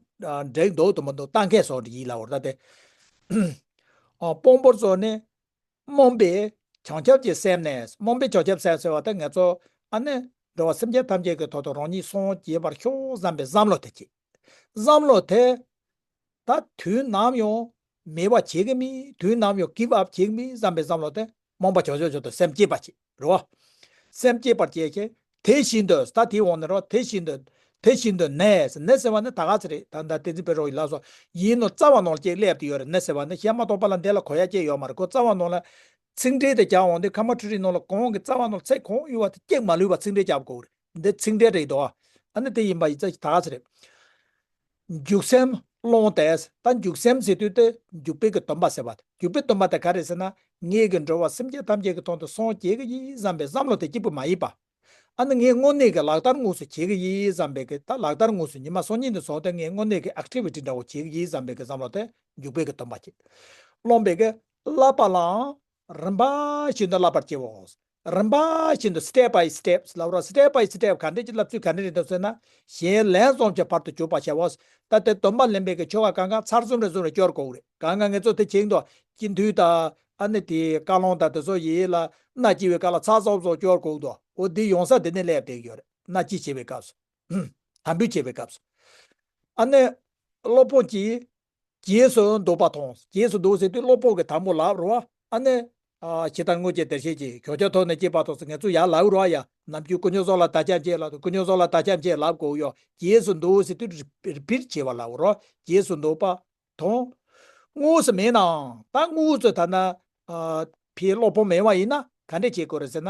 འགྲིག་འདུག་དུ་མ་འདུག་ལྟ་མཁན་སོགས་ཡིད་ལ་འོར་ད་དེ། སྤོང་པོ་ཚོ་ནི། རྨོངས་པའི་བྱང་ཆུབ་ཀྱི་སེམས་ནི་རྨོངས་པའི་བྱང་ཆུབ་སེམས་ཟེར་བ་དེ་ངེད་ཚོ་ཨ་ནེ་འགྲོ་བ་སེམས་ཅན་ཐམས་ཅད་ཀྱི་ཐོག་ཏུ་རང་ཉིད་སངས་རྒྱས་པར་ཤོག་བསམ་པའི་བསམ་བློ་དེ་བསྐྱེད། བསམ་བློ་དེ་དག་དུས་ནམ་ཡང་མེད་པ་བྱེད་ཀྱི་མིན་དུས་ནམ་ཡང་གིབ་ཨབ་བྱེད་ཀྱི་མིན་བསམ་པའི་བསམ་བློ་དེ་རྨོངས་པ་བྱང་ཆུབ་ཅན་དུ་སེམས་བསྐྱེད་པ་བྱེད། རོ། སེམས་བསྐྱེད་པར་བྱེད་ཅིང་དེ་བཞིན་དུ་ས་དེའི་འོག་ནས་རོ། དེ་བཞིན་དུ། དེ་བཞིན་དུ་ནས། ནས་ཟེར་བ་ནི་ད་ག་ཚེ་རེད། ད་ནི་ད་ཏིང་འཛིན་པའི་རོ་ཡིན་ལགས་སོ། ཡིན་ནོ་རྩ་བ་ནོར་ལྕེ་སླེབ་ཏུ་ཡོད་རེད་ནས་ཟེར་བ་ནི་གཞན་མ་གཏོགས་པ་ལ་འདི་ལ་གོ་ཡ་ཅན་ཡོད་མ་རེད་ཁོ་རྩ་བ་ནོར་ལ། ཚིག་འགྲེལ་དེ་རྒྱག་འོང་དུས་ཁ་མ་ཁྲུ་རིའི་ནོར་ལ་གོང་གི་རྩ་བ་ནོར་ཚེ་གོང་དབུལ་བ་དེ་སྐྱེགས་མ་ལུས་པར་ཚིག་འགྲེལ་རྒྱག་པར་གོ་རེད། འདི་ཚིག་འགྲེལ་རེད་དོ། ཨ་ནི་དེ་ཡིན་པ་ཡི་ཙི་ད་ཟེར། འཇུག་སེམས་ཀློང་དེས་ད་འཇུག་སེམས་ཟེར་དུས་དེ་འཇུག་པའི་གི་སྟོན་པ་ཟེར་བ། འཇུག་པའི་སྟོན་པ་དེ་ག་རེད་ཟེར་ན། ངེད་ཀྱི་འགྲོ་བ་སེམས་ཅན་ཐམས་ཅད་ཀྱི་དོན་དུ་སངས་རྒྱས་ཀྱི་ཡི་བསམ་པའི་བསམ་བློ་དེ་སྐྱིད་པོ་མ་ཡིན་པ། ཨ་ནི་ངའི་དངོས་གནས་ཀྱི་ལག་བསྟར་དངོས་སུ་བྱེད་ཀྱི་ཡི་བསམ་པའི་གི་ད་ལག་བསྟར་དངོས་སུ་ཉི་མ་སོ་གཉིས་ནས་བཟུང་སྟེ་ངའི་དངོས་གནས་ཀྱི Activity འདྲ་བོ་བྱེད་ཀྱི་ཡི་བསམ་པའི་གི་བསམ་བློ་དེ་འཇུག་པའི་གི་སྟོན་པ་སྐྱིད། རློམ་པའི་གི་བསླབ་པ་ལའང་རིམ་པ་བཞིན་དུ་བསླབ་པར་བྱའོ། རིམ་པ་བཞིན་དུ Step by Step ལབ་རོགས Step by Step ག་འདྲེ་ཀྱི་ལབ་ཚུལ་ག་འདྲེ་རེད་འདུག་ཟེར་ན་གཞན་ལན་བཟོང་གྱི་བར་དུ་གྱུར་པ་ཤ་བོ། ད་ལྟའི་སྡོམ་པ་ལེན་པའི་གི་ཆོ་ག་གང་གང་ཚར་གསུམ་རེ་གསུམ་རེ་སྐྱོར་དགོས་རེད་གང་གང་ངེད་ཚོ་དེ་བྱེད་འདོད་ཀྱི་འདུག་ད་ཨ་ནི་དེ་བཀའ་སློང་དང་དེ་ཚོ་ཡི་ལ་ན་སྐྱི་བའི་བཀའ་ལ་ཚར་གསུམ་གསུམ་སྐྱོར་དགོས་འདུག་འོ་དེ་ཡོང་ས་དེ་ནས་ལས་བསྡད་ཀྱི་ཡོད་རེད་ན་སྐྱི་བྱེད་པའི་སྐབས་སུ། དམ་འབུལ་བྱེད་པའི་སྐབས་སུ། ཨ་ནི་སློབ་དཔོན་གྱིས་རྗེས་སུ་ཟློག་པ་དང། རྗེས་སུ་ཟློག་ཟེར་དུས་བློ་ཕོག་གི་དང་པོ་ལགས་རོ། ཨ་ནི། ཇི་ལྟར་སྔོན་གྱི་བདེར་གཤེགས་ཀྱིས་གྱོ་ཆ་ཐོགས་ནས་སྐྱེས་པ་དང་ངལ་འཚོ་ཡ་ལགས་རོ། ཡ། ནམ་རྒྱུན་ཀུ་ཉོ་སོགས་ལ་བདག་ཅག་མཇལ་ལགས་ཀུ་ཉོ་སོགས་ལ་བདག་ཅག་མཇལ་ལགས་གོ། ཡོ། རྗེས་སུ་ཟློག་ཟེར་དུས་རི་པིར་བྱེད་པ་ལགས་རོ། རྗེས་སུ་ཟློག་པ། དང། དངོས་སུ་མེད་ནའང། ད་དངོས་སུ་ད་ནི། ཕའི་བློ་ཕོག་མེད་བ་ཡིན་ན་ག་འདྲས་བྱེད་དགོས་རེད་ཟེར་ན།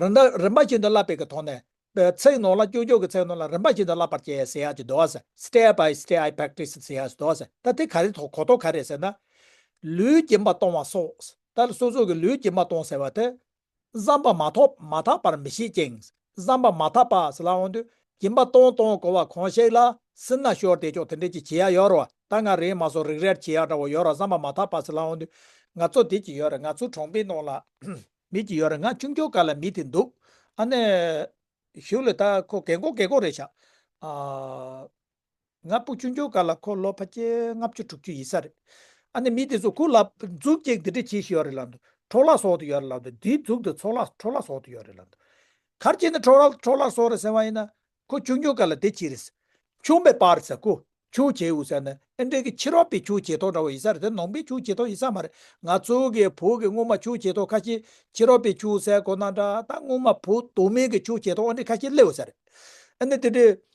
རིན་དང་རིན་པ་བཞིན་དུ་བསླབ་པའི་གི་དོགས་ནས། ཚིག་ནོར་ལ་ཀྱོག་ཀྱོག་གི་ཚིག་ནོར་ལ་རིན་པ་བཞིན་དུ་བསླབ་པར་བྱའི་ཟེར་ཡག་ཅིག་འདོགས། Step by Step I Practice ཟེར་ཡག་ཅིག་འདོགས། ད་དེ་ག་རེ་དོགས་གོ་དོགས་ག་རེ་ཟེར་ན། ལུས་སྦྱིན་པ་གཏོང་བ་སོགས། ད་སོ་སོ་གི་ལུས་སྦྱིན་པ་གཏོང་ཟེར་བ་དེ། བསམ་པ་མ་ཐོག་མ་དག་པར་མི་ཤེས་ཅིང། བསམ་པ་མ་ཐག་པར་སི་ལ་འོང་དུས་གྱིན་པ་སྟོང་སྟོང་གོ་བ་གང་ཞིག་ལ་སི་ན་ཤོར་དེ་ཅོག་དེ་འདྲས་ཀྱི་བྱེད་ཡ་ཡོར་བ་ད་ང་རེད་མ་སོ་རིག་རལ་བྱེད་ཡ་འདྲ་བོ་ཡོར་བ་བསམ་པ་མ་ཐག་པར་སི་ལ་འོང་དུས་ང་ཚོ་དེ་ཀྱི་ཡོར་རེད་ང་ཚོ་གྲོང་པའི་ནང་ལ་མེད་ཀྱི་ཡོར་རེད་ང་ཆུང་འཁྱོག་ག་ལ་མེད་དེ་འདུག་ཨ་ནེ་ཞུགས་ལེ་ད་ཁོ་གད་མགོ་གད་མགོ་རེད་ཤག་ཨ། ང་སྤུ་ཆུང་ཆུང་ག་ལ་འཁོར་ལོ་ཕ་ཁྱེད་ལྔ་བཅུ་དྲུག་ཅུ་ཡིན་ས་རེད། ཨ་ནི་མི་དེ་ཚོ་གུ་ལ་འཛུགས་སྐྱེག་འདི་འདྲ་བྱེད་ཞི་ཡོད་རེད་ལབ་འདུག་འཕྲོག་ལག་ཟོག་དུ་ཡོད་རེད་ལབ་འདུག་འདིའི་འཛུགས་འདི་འཚོག་ལག་འཕྲོག་ལག་ཟོག་དུ་ཡོད་རེད་ལབ་འདུག་གར་བྱེད་ནི་འཕྲོག་འཕྲོག་ལག་ཟོག་རེད་ཟེར་བ་ཡིན་ན་ཁོ་ཆུང་ཆུང་ག་ལ་དེ་བྱེད་རེད་ཟེར། ཆུང་པའི་པར་ཟེར་གུ་ཆུང་བྱེད་འུ་ཟེར་ན་ཨེ་འགྲིག་གི་ཕྱི་རོལ་པའི་ཆུ་བྱེ་ཐོག་འདྲ་བོ་ཡིན་ས་རེད་དེ་ནང་པའི་ཆུ་བྱེ་ཐོག་ཡིན་ས་མ་རེད་ང་ཚོ་གི་བུ་གི་སྔོན་མ་ཆུ་བྱེ་ཐོག་ཁ་ཤས་ཕྱི་རོལ་པའི་ཆུ་ཟས་གོ་ན་འདྲ་ད་སྔོན་མ་བུ་དུ་མའི་གི་ཆུ་བྱེ་ཐོག་འོ་འདྲས་ཁ་ཤས་སླེ་འུ་ས་རེད་ཨ་ནི་དེ་འདྲས།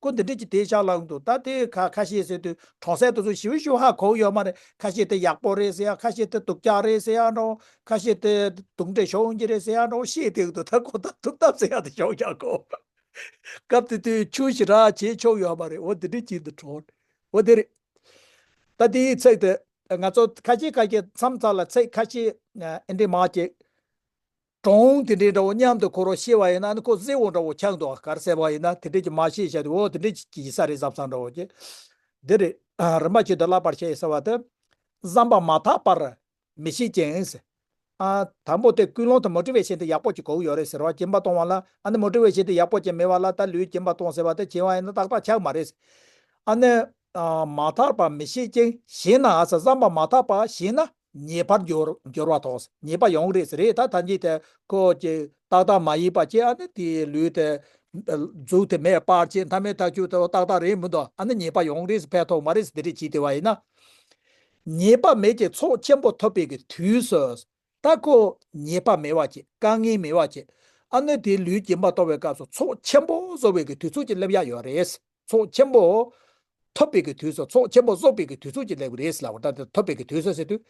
སྐུ་འདི་འདྲས་ཀྱི་དེ་ཞག་ལངས་འདུག་ད་དེའི་ཁ་ཁ་ཤས་ཟེར་དུས་གྲོང་གསེབ་དུ་ཚོ་ཞི་བ་ཞུ་ཧ་གོ་གི་ཡོད་མ་རེད་ཁ་ཤས་དེ་ཡག་པོ་རེད་ཟེར་ཡང་ཁ་ཤས་དེ་དུག་ཀྱག་རེད་ཟེར་ཡང་འདྲའོ་ཁ་ཤས་དེ་དུག་འདྲས་ཤོང་གི་རེད་ཟེར་ཡང་འདྲའོ་ཤེས་ཐེག་དུ་ད་ཁོ་ཐག་ཐུག་ཐབས་ཟེར་ཡག་དེ་ཤོང་ཡག་གོ། སྐབས་དེ་དུས་ཆུ་ཞི་རགས་བྱས་ཆོག་ཡོད་མ་རེད་འོ་འདི་འདྲས་ཀྱི་འདི་གྲོང་འོ་དེ་རེད། ད་དེའི་ཚེག་དེ་ང་ཚོ་ཁ་ཤས་ཁ་ཤས་མཚམས་ཚགས་ལ་ཚེག་ཁ་ཤས་ཨེ་འདྲས་མ་ཀྱེ། གྲོང་དེ་འདྲའི་འདྲ་བོ་མཉམ་དུ་འཁོར་བ་ཤེས་པ་ཡིན་ན་ནི་ཁོ་གཟིགས་འོང་འདྲ་བོ་ཁྱག་འདུག་ག་གར་གསལ་བ་ཡིན་ན་དེ་འདྲའི་གྱི་མ་ཤེས་བྱ་དེ་འོ་དེ་འདྲའི་གྱི་གྱི་ས་རེད་བསམ་བསམ་འདྲ་བོ་ཀྱི། འདི་རེད། རིན་པ་ཆེ་དུ་བསླབ་པར་བྱེད་ཟེར་བ་དེ། བསམ་པ་མ་ཐག་པར་མི་ཤེས་ཀྱིན། ཨ། དང་པོ་དེ་ཀུན་སློང་དུ་མོ་ཀྲི་བའི་ཆེན་དེ་ཡག་པོ་ཀྱི་གོག་ཡོད་རེད་ཟེར་བ་ཀྱིན་པ་གཏོང་བ་ལ་ཨ་ནི་མོ་ཀྲི་བའི་ཆེན་དེ་ཡག་པོ་ཀྱིན་མེད་བ་ལ་ད་ལུས་ཀྱིན་པ་གཏོང་ཟེར་བ་དེ་བྱིན་བ་ཡིན་ན་ཏག་ཏག་ཁྱག་མ་རེད། ཨ་ནི། མ་ཐག་པར་མི་ཤེས་ཀྱིན་ཞེས་ན་ཨ་ས་བསམ་པ་མ་ཐག་པ་ཞེས་ན། ཉེས་པར་འགྱུར་འགྱུར་བ་དང་ཉེས་པ་ཡོང་རེས་རེས་ད་ཐ་ཉིད་དེ་ཁོ་ཀྱི་ཏག་ཏག་མ་ཡིན་པ་ཅི་ཨ་ནི་དེའི་ལུས་དེ། གཟུགས་དེ་མེད་པར་ཅི་མཐའ་མེད་ཐག་ཆུད་དེ་ཏག་ཏག་རེད་མི་འདུག་ཨ་ནི་ཉེས་པ་ཡོང་རེས་ཕན་ཐོག་མ་རེས་འདི་རེས་བྱས་དེ་བ་ཡིན་ན། ཉེས་པ་མེད་ཀྱི་ཚོགས་ཆེན་པོ་ཐོབ་པའི་གི་དུས་སུ། ད་ཁོ་ཉེས་པ་མེད་བ་ཅི་དཀའ་ངལ་མེད་བ་ཅི་ཨ་ནི་དེའི་ལུས་སྐྱིན་པ་གཏོང་བའི་སྐབས་སུ་ཚོགས་ཆེན་པོ་བཟོ་བའི་གི་དུས་ཚོད་ཅིག་སླེབས་ཡ་ཡོད་རེས། ཚོགས་ཆེན་པོ། ཐོབ་པའི་གི་དུས་སུ་ཚོགས་ཆེན་པོ་གསོག་པའི་གི་དུས་ཚོགས་ཀྱི་ལེགས་པར་རེས་ལ་བར་ཐག་ཐོབ་པའི་གི་དུས་སུ་ཟེར་དུས།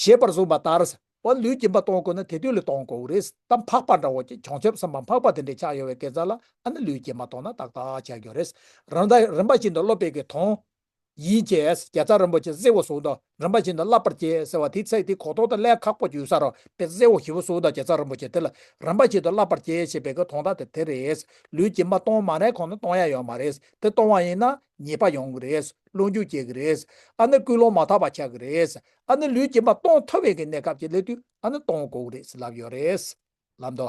ཞེས་པར་གསུངས་པ་ལྟར། བ་ལུས་སྦྱིན་པ་གཏོང་དགོས་ན་དེ་དུས་ལ་གཏོང་དགོས་བོ་རེས་གཏམ་འཕགས་པ་འདྲ་བོ་ཀྱི་བྱང་ཆུབ་བསམ་པ་འཕགས་པ་དེ་འདྲའི་ཕྱག་ཡོད་བའི་གེ་མཛའ་ལ་ཨ་ནི་ལུས་སྦྱིན་པ་གཏོང་ན་ཏག་ཏག་བྱ་དགོས་རེས་རང་ད་རིམ་པ་བཞིན་དུ་སློབ་པའི་གི་དོན་ཡིན་ཅེས་རྒྱལ་ཚབ་རིན་པོ་ཆེས་གསེར་འོད་ཟུང་དང་རིན་པ་བྱིན་དང་བརླབ་པར་བྱས་ཟེར་བ་དེའི་ཚེ་དེའི་གོ་ཐོག་ཏུ་ཀླད་ཁག་པོ་ཡོད་ས་རུང་བས་གསེར་འོད་ཞི་བ་ཟུང་དང་རྒྱལ་ཚབ་རིན་པོ་ཆེ་དེ་ལ་རིན་པ་བྱིན་དང་བརླབ་པར་བྱས་ཞེས་པའི་གོ་ཐོག་མཐའ་དེ་དེ་རེད། ལུས་ཀྱིས་མ་གཏོང་མ་ནའི་གོང་ན་གཏོང་ཡ་ཡོད་མ་རེད། དེ་གཏོང་བ་ཡིན་ན་ཉེས་པ་ཡོང་གི་རེད། སློང་རྒྱུགས་བྱེད་ཀྱི་རེད། ཨ་ནི་སྐུལ་སློང་མ་ཐག་པ་ཆགས་ཀྱི་རེད། ཨ་ནི་ལུས་ཀྱིས་མ་གཏོང་ཐུབ་བས་ཀྱི་གནས་སྐབས་ཀྱི་སླད་དུ་ཨ་ནི་གཏོང་དགོས་ཀྱི་རེད་ལབ་ཡོད་རེད། ལམ་དུ།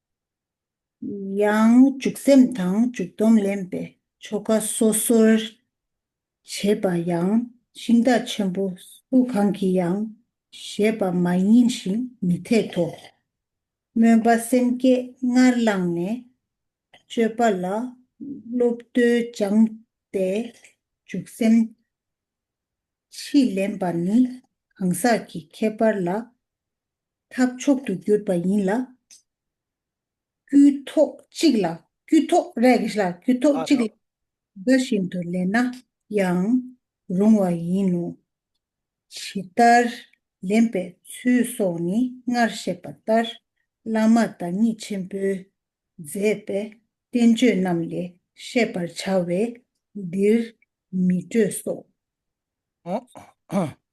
ཡང་འཇུག་སེམས་དང་འཇུག་སྡོམ་ལེན་པའི་ཆོ་ག་སོ་སོར་བྱེད་པ་ཡང་ཤིང་རྟ་ཆེན་པོ་སུ་གང་གིས་ཡང་བཞེད་པ་མ་ཡིན་ཞིང་མི་འཐད་དོ། སྨོན་པ་སེམས་བསྐྱེད་སྔར་བླངས་ནས་སྤྱོད་པ་ལ་བློ་བརྟུལ་སྦྱངས་ཏེ་འཇུག་སེམས་ཕྱིས་ལེན་པ་ནི་གང་ཟག་གི་ཁྱད་པར་ལ་ཐབས་མཆོག་ཏུ་གྱུར་པ་ཡིན་ལ། དཀྱུས་ཐོག་གཅིག་ལ་དཀྱུས་ཐོག་རེག་བྱ་དཀྱུས་ཐོག་གཅིག་ལ་འགའ་བཞིན་དུ་ལེན་ན་ཡང་རུང་བ་ཡིན་ནོ། ཇི་ལྟར་ལེན་པའི་ཚུལ་སོགས་ནི་སྔར་བཤད་པ་ལྟར་བླ་མ་བདག་ཉིད་ཆེན་པོས་མཛད་པའི་བསྟན་བཅོས་རྣམས་ལས་ཤེས་པར་བྱ་བས་འདིར་མི་སྤྲོས་སོ།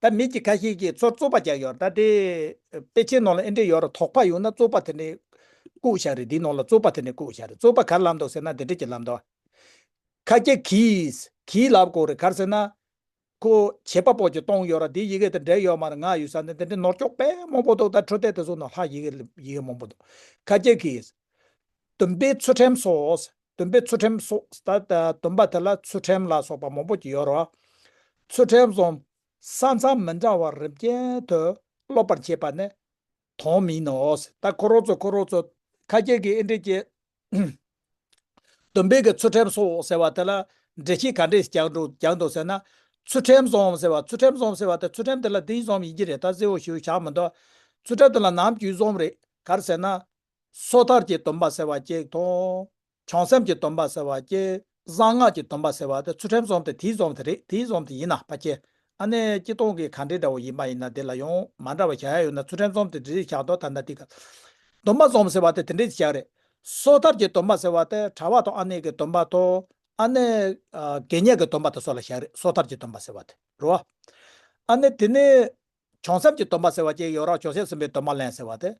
ད་མི་གཅིག་ཁ་ཤས་ཀྱིས་ཚོར་རྩོད་པ་རྒྱག་ཡོད་རེད་ད། དེ་དཔེ་ཆའི་ནང་ལ་ཨེ་འདྲེས་ཡོད་རེད་དོགས་པ་ཡོང་ན་རྩོད་པ་དེ་འདྲས་བཀུག་བཞག་རེད་དེའི་ནང་ལ་རྩོད་པ་དེ་འདྲས་བཀུག་བཞག་རེད་རྩོད་པ་གར་ལབ་འདུག་ཟེར་ན་དེ་འདྲས་ཀྱི་ལབ་འདུག་ཁ་སྐད་གིས་གིས་ལབ་དགོས་རེད་གར་ཟེར་ན། ཁོ་བྱེད་པ་པོ་ཀྱི་གཏོང་ཡོད་ར་དེའི་ཡི་གེ་དེ་འདྲས་ཡོད་མ་རེད་ང་ཡོད་ས་ནས་དེ་འདྲས་ནོར་ཀྱོག་པད་མོང་པོ་འདུག་ད་འཕྲོད་བསྡད་དེ་ཚོ་ནང་ལྷག་ཡི་གེ་ཡི་གེ་མང་པོ་འདུག་ཁ་སྐད་གིས། བདུན་པའི་ཚུལ་ཁྲིམས་སོགས་སྡོམ་པའི་ཚུལ་ཁྲིམས་སོགས་ལྟར་ཏེ་སྡོམ་པ་དེ་ལ་ཚུལ་ཁྲིམས་ལ་སོགས་པ་མང་པོ་ཡོད་རོ། ཚུལ་ཁྲིམས་སོགས་ས་མཚམས་མི་འདྲ་བ་རིམ་ཅན་དུ་སློབ་པར་བྱེད་པ་ནི་དོན་མིན་ནོ། ད་ཁོ་རོག་ཚོ་ཁོ་རོག་ཚོ། ཁ་སྐྱེལ་གྱི་ཨེ་འགྲིག་ཀྱེ། སྡོམ་པའི་གི་ཚུལ་ཁྲིམས་སོགས་ཟེར་བ་དེ་ལ་འགྲེལ་བྱེད་ག་འདྲས་རྒྱག་འགྲོ་ཟེར་ན། ཚུལ་ཁྲིམས་སོགས་ཟེར་བ་ཚུལ་ཁྲིམས་སོགས་ཟེར་བ་དེ་ཚུལ་ཁྲིམས་དེ་ལ་འདིའི་སོམས་ཡིན་གྱི་རེད་ད་གསལ་བོ་ཞུ་བཞག་མི་འདུག། ཚུལ་ཁྲིམས་དེ་ལ་ནམ་རྒྱུན་སོམས་རེད་གར་ཟེར་ན། སོ་ཐར་གྱི་སྡོམ་པ་ཟེར་བ་སྐྱེས། བྱང་སེམས་ཀྱི་སྡོམ་པ་ཟེར་བ་སྐྱེས། གསང་སྔགས་ཀྱི་སྡོམ་པ་ཟེར་བ་དེ་ཚུལ་ཁྲིམས་སོགས་དེ་དེའི་རྫོང་དེ་རེད་དེའི་རྫོང་དེ་ཡིན་ན་པ་སྐྱེས། ཨ་ནེ་སྐྱིད་སྟོང་གི་གང་དྲིས་འདྲ་བོ་ཡིན་པ་ཡིན་ན་དེ་ལ་ཡང་མ་འདྲ་བ་གཞལ་ཡས་ཡོད་ན་ཚུལ་ཁྲིམས་རྫོང་དེ་དྲིས་ཞག་འདོག་ད་ནི་དེ། སྡོམ་པ་རྫོང་ཟེར་བ་དེ་དེ་འདྲའི་ཞག་རེད། སོ་ཐར་གྱི་སྡོམ་པ་ཟེར་བ་དེ་གྲྭ་བ་དང་ཨ་ནེ་གི་སྡོམ་པ་དང། ཨ་ནེ། དགེ་བསྙེན་གྱི་སྡོམ་པ་དེ་སོགས་ལ་ཞག་རེད་སོ་ཐར་གྱི་སྡོམ་པ་ཟེར་བ་དེ་རོ། ཨ་ནེ་དེ་ནི། བྱང་སེམས་ཀྱི་སྟོན་པ་ཟེར་བ་བཅས་ཡོད་རང་བྱང་སེམས་གསུམ་པའི་སྟོན་པ་ལན་ཟེར་བ་སྟེ།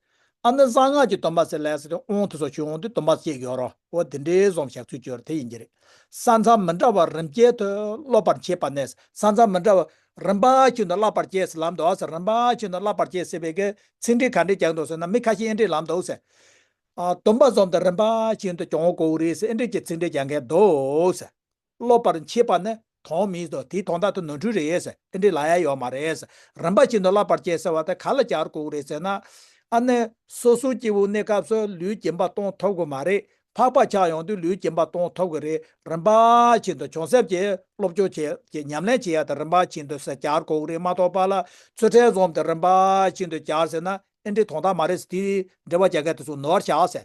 ཨ་ནི་གསང་སྔགས་ཀྱི་སྟོན་པ་ཟེར་ལན་ཟེར་ཏེ་དབང་དུ་སོགས་ཆོས་དབང་དུ་སྟོན་པ་བཅས་ཡོད་རང་བོ་དེ་འདྲའི་གཟུང་བྱ་ཚུལ་བཅོས་དེ་ཡིན་གྱི་རེད། ས་མཚམས་མི་འདྲ་བ་རིམ་བསྐྱེད་དུ་སློབ་པར་བྱེད་པ་ནས་ས་མཚམས་མི་འདྲ་བ་རིམ་པ་ཁྱོད་དུ་བསླབ་པར་བྱས་ཟེར་ལམ་འདོགས་ཟེར་རིམ་པ་ཁྱོད་དུ་བསླབ་པར་བྱས་ཟེར་བའི་གི་ཚིག་འགྲེལ་ག་འདྲས་ཀྱང་འདོགས་ཟེར་ན་མི་ཁ་ཤས་ཨེ་འདྲས་ལམ་འདོགས་ཟེར། སྟོན་པ་ཟོམ་དུ་རིམ་པ་ཁྱོད་དུ་བྱུང་གོ་རེ་ཟེར་ཨེ་འདྲས་ཀྱི་ཚིག་འགྲེལ་ཀྱང་གས་འདོགས་ཟེར། སློབ་པར་མཆིས་པ་ནི་དོང་མི་དོ་དེའི་དོང་དག་ཏུ་ནོར་འཁྲུལ་རེད། དེ་འདྲའི་ལ་ཡ་ཡོད་མ་རེད། རིན་པ་ཅན་དུ་བསླབ་པར་བྱེད་ཟེར་བ་དེ་ག་ལ་གྱར་དགོས་རེད་ཟེར་ན། ཨ་ནི། སོ་སོའི་སྐྱེ་བོའི་གནས་སྐབས་སུ་ལུས་སྐྱེན་པ་གཏོང་ཐུབ་དགོས་མ་རེད། འཕགས་པ་ཆགས་ཡོང་དུས་ལུས་སྐྱེན་པ་གཏོང་ཐུབ་དགོས་རེད། རིན་པ་ཅན་དུ་བྱུང་ཟེར་གྱིས་སློབ་སྦྱོང་བྱེད་ཀྱི་ཉམས་ལེན་བྱེད་ཡ་དེ་རིན་པ་ཅན་དུ་ཟེར་གྱར་དགོས་རེད་མ་གཏོགས་པ་ལ་ཚུལ་ཕྲན་འཛོམས་དེ་རིན་པ་ཅན་དུ་གྱར་ཟེར་ན་ཨེ་འགྲིག་དོང་དག་མ་རེད་དེའི་འབྲེལ་བ་བྱ་མཁན་དེ་ཚོ་ནོར་བར་བྱ་ཟེར་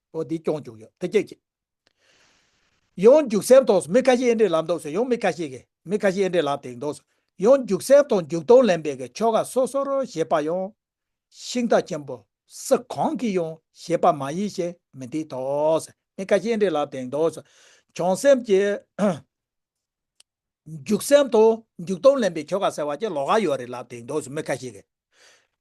པོ་འདི་སྐྱོང་བཅུག་ཡོད་ཐུགས་རྗེ་ཆེ། ཡོངས་འཇུག་གསེར་ཐོག་སུ་མི་ཁ་ཤས་ཨེ་འདྲེ་ལབ་འདུག་སུ་ཡོངས་མི་ཁ་ཤས་ཀྱི་མི་ཁ་ཤས་ཨེ་འདྲེ་ལབ་དེང་འདུག་སུ་ཡོངས་འཇུག་གསེར་ཐོག་འཇུག་དོན་ལེན་པའི་གི་ཆོ་ག་སོ་སོ་རོ་ཞེས་པ་ཡོངས་ཤིང་རྟ་ཆེན་པོ་སུ་གང་གིས་ཡོངས་ཞེས་པ་མ་ཡིན་ཞེས་མི་འདི་ཐོག་སུ་མི་ཁ་ཤས་ཨེ་འདྲེ་ལབ་དེང་འདུག་སུ་བྱང་སེམས་ཀྱི། མཇུག་གསལ་དུ་མཇུག་སྟོང་ལེན་པའི་ཁྱོ་ག་ཟེར་བ་ཅིག་ལོགས་ཀ་ཡོད་རེད་ལབ་དེ་འདོགས་སུ་མི་ཁ་ཤས་ཀྱི།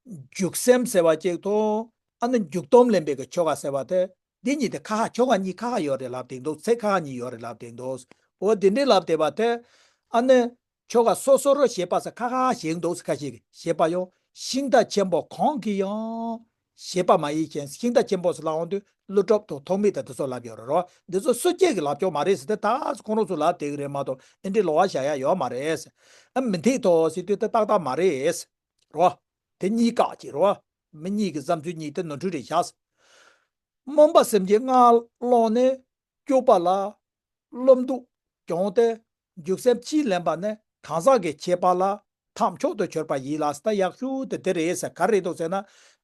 མཇུག་གསལ་ཟེར་བ་ཅིག་དང་ཨ་ནི་མཇུག་སྟོང་ལེན་པའི་གི་ཁྱོ་ག་ཟེར་བ་དེ་འདི་གཉིས་དེ་ཁ་ཁ་ཁྱོ་ག་གཉིས་ཁ་ཁ་ཡོད་རེད་ལབ་དེ་འདོགས་ཚེ་ཁ་ཁ་གཉིས་ཡོད་རེད་ལབ་དེ་འདོགས། འོ་དེ་འདྲས་ལབ་དེ་བ་དེ། ཨ་ནི། ཁྱོ་ག་སོ་སོ་རོ་ཞེས་པ་སེ་ཁ་ཁ་ཁ་ཞེས་འདོགས་སུ་ཁ་ཤས་ཀྱི་ཞེས་པ་ཡང་ཤིང་རྟ་ཆེན་པོ་གང་གིས་ཡང། ཞེས་པདྨ་ཡིད་ཅན་ཤིང་རྟ་ཆེན་པོ་སོགས་ལ་འོང་དུས་ཀླུ་སྒྲུབ་ཐོགས་ཐོགས་མི་དང་དེ་སོགས་ལབ་ཡོད་རེད་འདི་ཚོ་བསོད་རྒྱལ་གྱི་ལབ་ཕྱོགས་མ་རེད་ཟེར་ཏེ་ད་ཨ་ཁོང་རོགས་ཚོ་ལབ་དེ་གི་རེད་མ་གཏོགས་ཨེ་འདྲའི་ལོག་བ་བཞག་ཡ་ཡོད་མ་རེད། ཨ་མི་འཐིག་ཐོགས་ཟེར་དུས་དེ་ཏག་ཏག་མ་རེད། རོ། དེ་གཉིས་བཀག་ཅིག་རོ། མི་གཉིས་ཀྱི་བསམ་ཚུལ་གཉིས་དེ་ནོར་འཁྲུལ་རེད་བཞག། རྨོངས་པ་སེམས་ཀྱི་སྔགས་ཀློང་ནས་སྐྱུགས་པ་ལ། སློབ་འདུག་སྐྱོང་སྟེ་རྒྱུགས་སེམས་ཅི་ལེན་པ་ནི་གང་ཟག་གི་ཁྱད་པར་ལ་ཐག་མཆོག་ཏུ་གྱུར་པ་ཡིན་ལ་ས་ཡག་ཤོས་དེ་འདི་རེད་ཟེར་ག་རེ་འདུག་ཟེར་ན་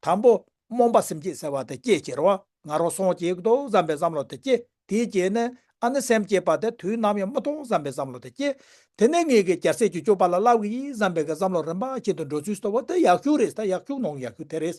དང་པོ་རྨོངས་པ་སེམས་སྐྱེད་ཟེར་བ་དེ་སྐྱེད་ཕྱིར་བ་ང་རང་སོང་སྐྱེས་འདུག་བསམ་པའི་བསམ་བློ་དེ་སྐྱེད་དེའི་རྗེས་ནས་ཨ་ནི་སེམས་སྐྱེད་པ་དེ་དུས་ནམ་ཡང་མ་མཐོང་བསམ་པའི་བསམ་བློ་དེ་སྐྱེད་དེ་ནས་ངེད་ཀྱི་གྱར་སེར་གྱི་སྐྱོབ་པ་ལ་བསླབ་གི་ཡིན་བསམ་པའི་བསམ་བློ་རིམ་པ་ཅན་དུ་འགྲོ་ཚུལ་གསོ་བ་དེ་ཡག་ཤོས་རེད་ས་ཡག་ཤོས་ནང་ཡག་ཤོས་དེ་རེད།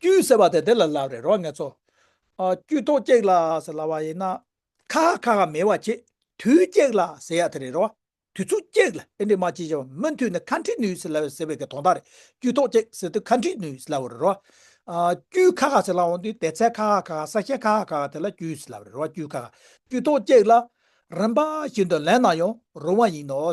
དཀྱུས་ཟེར་བ་དེ་དེ་ལ་ལབ་རེད་རོ་ངེད་ཚོ། དཀྱུས་ཐོག་སྐྱེགས་ལ་ཟེར་ལབ་བ་ཡིན་ན། ཁ་ཧ་ཁ་ཧ་མེད་བ་ཆེ་དུས་སྐྱེགས་ལ་ཟེར་ཡག་དེ་རེད་རོ། དུས་ཚོད་སྐྱེགས་ལ་ཨེ་འགྲིག་མ་ཅི་བྱ་བ་མུ་མཐུད་ནས་ཁ་འཁྲིད་ནུས་ཟེར་ལབ་བའི་ཟེར་བའི་གི་དོག་མདའ་རེད་དཀྱུས་ཐོག་སྐྱེགས་ཟེར་དུས་ཁ་འཁྲིད་ནུས་ཟེར་ལབ་བ་རེད་རོ། དཀྱུས་ཁ་ཁ་ཟེར་ལབ་འོང་དུས་དེ་ཚད་ཁ་ཧ་ཁ་ཧ་ས་ཞེ་ཁ་ཧ་ཁ་ཧ་དེ་ལ་དཀྱུས་ཟེར་ལབ་རེད་རོ་དཀྱུས་ཁ་ཁ་དཀྱུས་ཐོག་སྐྱེགས་ལ། རིམ་པ་བཞིན་དུ་ལེན་ན་ཡང་རུང་བ་ཡིན་ནོ།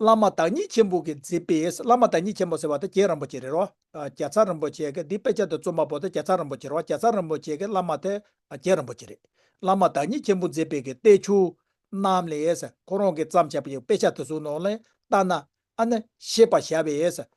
བླ་མ་བདག་ཉིད་ཆེན་པོ་གིས་མཛད་པའི་བླ་མ་བདག་ཉིད་ཆེན་པོ་ཟེར་བ་དང་རྒྱན་རིན་པོ་ཆེ་རེད་རོ། རྒྱ་ཚ་རིན་པོ་ཆེ་གིས་འདི་དཔེ་ཆ་དེ་རྩོམ་པ་པོ་དེ་རྒྱ་ཚ་རིན་པོ་ཆེ་རེད་བ་རྒྱ་ཚ་རིན་པོ་ཆེ་གིས་བླ་མ་དེ་རྒྱན་རིན་པོ་ཆེ་རེད། བླ་མ་བདག་ཉིད་ཆེན་པོ་མཛད་པའི་གི་ཏའི་ཆུ། རྣམས་ལས། ཁོ་རང་གིས་བརྩམས་བྱས་པ་ཡི་དཔེ་ཆ་དེ་ཚོའི་ནང་ལས་བལྟ་ན། ཨ་ནི། ཤེས་པར་བྱ་བས།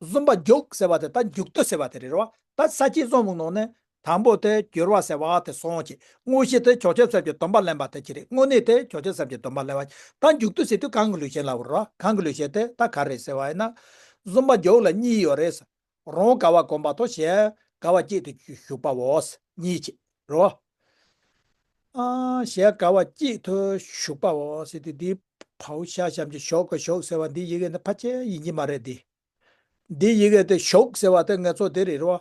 བཟུང་བ་འཇུག་ཟེར་བ་དེ་ད་འཇུག་ཏུ་ཟེར་བ་དེ་རེད་བ་ད་ས་བྱི་བཟང་བུ་ནང་ནས་དང་པོ་དེ་བསྒྱུར་བ་ཟེར་བ་དེ་སོང་ཅིག་དངོས་གཞི་དེ་ཆོག་ཆོད་ཟབ་ཀྱི་སྡོམ་པ་ལེན་པ་དེ་གྱི་རེད་དངོས་གནས་དེ་ཆོག་ཆོད་ཟབ་ཀྱི་སྡོམ་པ་ལེན་བ་ད་འཇུག་ཏུ་ཟེར་དུས་གང་གི་ལུས་ཞེན་ལ་བོར་བ་གང་གི་ལུས་ཞེན་དེ་ད་ག་རེད་ཟེར་བ་ཡིན་ན། བཟུང་བ་འཇུག་ལ་གཉིས་ཡོད་རེད། རང་ག་བ་གོམས་པ་དང་གཞན་ག་བ་སྐྱིད་དུ་བཞུགས་པའོ། གཉིས་ཆེད། རོ། ཞེས་དགའ་བ་སྐྱིད་དུ་བཞུགས་པའོ། ཟེར་ཏེ་འདིའི་བའུ་ཤ་བཤམ་གྱི་ཞོག་གི་ཞོག་ཟེར་བ་འདིའི་ཡི་གེ་ནི་ཕ་ཆེ་ཡིན་གྱི་མ་རེད་དེ། འདིའི་ཡི་གེ་དེ་ཞོག་ཟེར་བ་དེ་ངེད་ཚོ་དེ་རེད་རོ།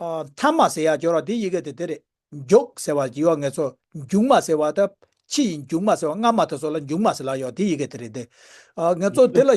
མཐའ་མ་ཟེར་ཡག་སྐྱོར་བ་འདིའི་ཡི་གེ་དེ་དེ་རེད། མགྱོགས་ཟེར་བ་ཡི་བ་ངེད་ཚོ་མགྱུག་མ་ཟེར་བ་དེ་ཕྱི་ཡི་མགྱུག་མ་ཟེར་བ་སྔ་མ་དེ་ཚོ་ལ་མགྱུག་མ་ཟེར་ལགས་ཡོག་འདིའི་ཡི་གེ་དེ་རེད་དེ། ངེད་ཚོ་དེ་ལ།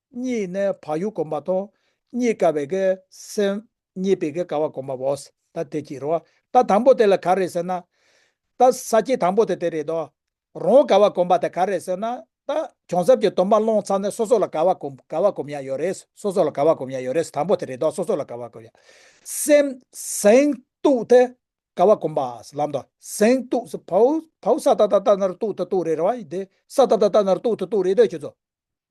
གཉིས་ནི་བག་ཡོད་བསྒོམ་པ་དང། གཉིས་དགའ་བའི་གེགས་སེལ། གཉིས་པའི་གེགས་དགའ་བ་བསྒོམ་པའོ། ད་དེ་ཅི་རེད། ད་དང་པོ་དེ་ལ་ག་རེད་ཟེར་ན། ད་ས་སྐྱེས་དང་པོ་དེ་དེ་རེད་དོ། རང་དགའ་བ་བསྒོམ་པ་དེ་ག་རེད་ཟེར་ན། ད་བྱང་ཆུབ་ཀྱི་སྡོམ་པ་བླངས་ཚར་ནས་སོ་སོ་ལ་དགའ་བ་བསྒོམ་དགའ་བ་བསྒོམ་ཡ་ཡོད་རེད། སོ་སོ་ལ་དགའ་བ་བསྒོམ་ཡ་ཡོད་རེད་དང་པོ་དེ་རེད་དོ་སོ་སོ་ལ་དགའ་བ་བསྒོམ་ཡ། སེམས་གཟེངས་བསྟོད་དེ་དགའ་བ་བསྒོམ་པ་ལམ་དང། གཟེངས་བསྟོད་བའོ། བའོ་ས་ད་ད་ད་ན་རུ་བསྟོད་ད་བསྟོད་རེད་ར་བ་ཡིན་ཏེ། ས་ད་ད་ད་ན་རུ་བསྟོད་ད་བསྟོད་རེད་དོ་ཁྱོད་ཚོ།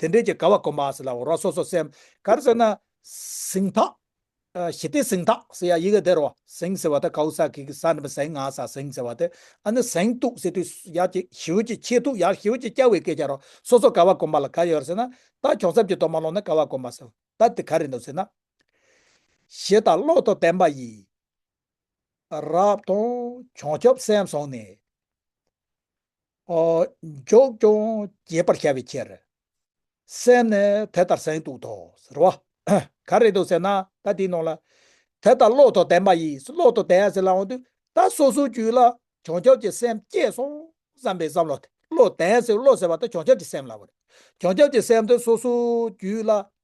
དེ་འབྲེལ་གྱི་དགའ་བ་གོ་མ་སི་ལ་འོ་རོག་སོ་སོ་སེམས་གར་ཟེར་ན། གཟིངས་ཐག། ཞི་བདེ་གཟིངས་ཐག་ཟེར་ཡ་ཡི་གེ་དེ་རོ་གཟིངས་ཟེར་བ་དེ་གའུ་སག་གི་གི་ས་ནི་མི་གཟིངས་ང་ས་གཟིངས་ཟེར་བ་དེ་ཨ་ནི་གཟིངས་གཏུགས་ཟེར་དུས་ཡག་ཅིག་ཞིའུ་ཅིག་ཆེས་ཐུགས་ཡག་ཞིའུ་ཅིག་སྐྱ་བའི་སྐད་ཆ་རོ་སོ་སོ་ག་བ་གོ་མ་ལ་ག་ཡོད་ཟེར་ན། ད་གྱོང་ཚབ་ཀྱི་མདོ་མ་ལོག་ན་ག་བ་གོ་མ་སི་ད་དེ་ག་རེད་འདུག་ཟེར་ན། ཞེས་ད་བློ་དང་ལྡན་པ་ཡིས། རབ་དང་བྱང་ཆུབ་སེམས་བཟུང་ནས། འཇོག་ཀྱང་རྒྱས་པར་བྱ་བའི་ཕྱིར། སེམས་ནི་དེ་ལྟར་གཟེངས་བསྟུགས་ཏོ། ཟེར་བ། ག་རེ་དུ་ཟེར་ན་ད་དེའི་ནང་ལ། དེ་ལྟར་བློ་དང་ལྡན་པ་ཡིས་བློ་དང་ལྡན་ཟེར་ལའང་དུས་ད་སོ་སོའི་རྒྱུད་ལ་བྱང་ཆུབ་ཀྱི་སེམས་སྐྱེས་སོང་བསམ་པའི་བསམ་བློ་དེ་བློ་ལྡན་ཟེར་བློ་ཟེར་བ་དེ་བྱང་ཆུབ་ཀྱི་སེམས་ལ་བར། བྱང་ཆུབ་ཀྱི་སེམས་དེ་སོ་སོའི་རྒྱུད་ལ་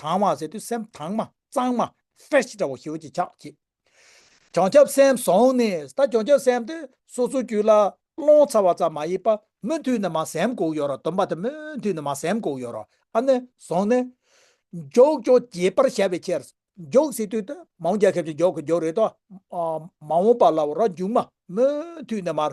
དྭངས་མ་ཟེར་དུས་སེམས་དྭངས་མ་གཙང་མ Fresh འདྲ་བོ་ཞིག་ཆགས་སྐྱེས། བྱང་ཆབ་སེམས་བཟང་ནས་ད་བྱང་ཆབ་སེམས་དེ་སོ་སོའི་རྒྱུད་ལ་སློང་ཚར་བ་ཙམ་མ་ཡིན་པར་མུ་མཐུད་ནས་མ་སེམས་གོག་ཡོད་རོགས་སྟོན་པ་དེ་མུ་མཐུད་ནས་མ་སེམས་གོག་ཡོད་རོགས་ཨ་ནི་བཟང་ནས། མགྱོགས་མགྱོགས་རྒྱས་པར་བྱ་བའི་ཕྱིར། མགྱོགས་ཟེར་དུས་དེ་མང་རྒྱ་ཁབ་ཅིག་མགྱོགས་གི་མགྱོགས་རེད་དོ། མ་འོངས་པ་ལ་རོགས་མཇུག་མ་མུ་མཐུད་ནས་མར་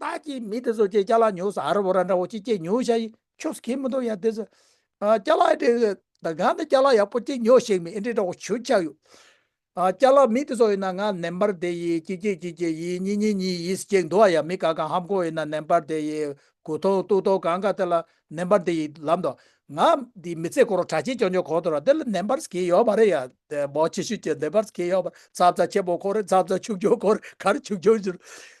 བདག་གིས་མི་དེ་ཚོ་ཀྱེ་སྐྱ་ལག་ཉོས་སོ་ཨ་ར་བོ་ར་འདྲ་བོ་ཅིག་ཀྱེ་ཉོས་ཤ་ཡི་ཆོས་སུ་ཁེལ་མི་འདུག་ཡ་དེ་ཚོ་སྐྱ་ལག་ཨེ་འདྲའི་ད་གང་དུ་སྐྱ་ལག་ཡག་པོ་ཅིག་ཉོས་ཤིག་མི་ཨེ་འདྲའི་འདྲ་བོ་ཞུ་ཆགས་ཡོད། སྐྱ་ལག་མི་དེ་ཚོ་ཡིན་ན་ང་ནན་པར་དེ་ཡི་ཀྱེ་ཀྱེ་ཀྱེ་ཀྱེ་ཡིས་གཉིས་གཉིས་གཉིས་ཡིས་ཀྱེ་འདུག་ཨ་ཡ་མི་ག་གང་ཧམ་གོ་ཡིན་ན་ནན་པར་དེ་ཡི་གུ་ཐོག་ཏུག་ཐོག་གང་ག་དེ་ལ་ནན་པར་དེ་ཡི་ལབ་འདུག་ང་འདི་མི་ཚེ་སྐོར་བྲ་ཆེན་ཅོ་ཅོ་གོ་ཐོ་ར་དེ་ལ་ནན་པར་སུ་ཁེལ་ཡོད་པ་རེད་ཡ་དེ་བོ་ཆེ་ཤོས་ཀྱེ་ནན་པར་སུ་ཁེལ་ཡོད་པ་རེད་ཚ་བཙའ་ཆེན་པོ་གོ་རེད་ཚ་བཙའ་ཆུང་ཆུང་གོ་རེད་ག་རེ་ཆུང་ཆུང་ཞུ་རེད་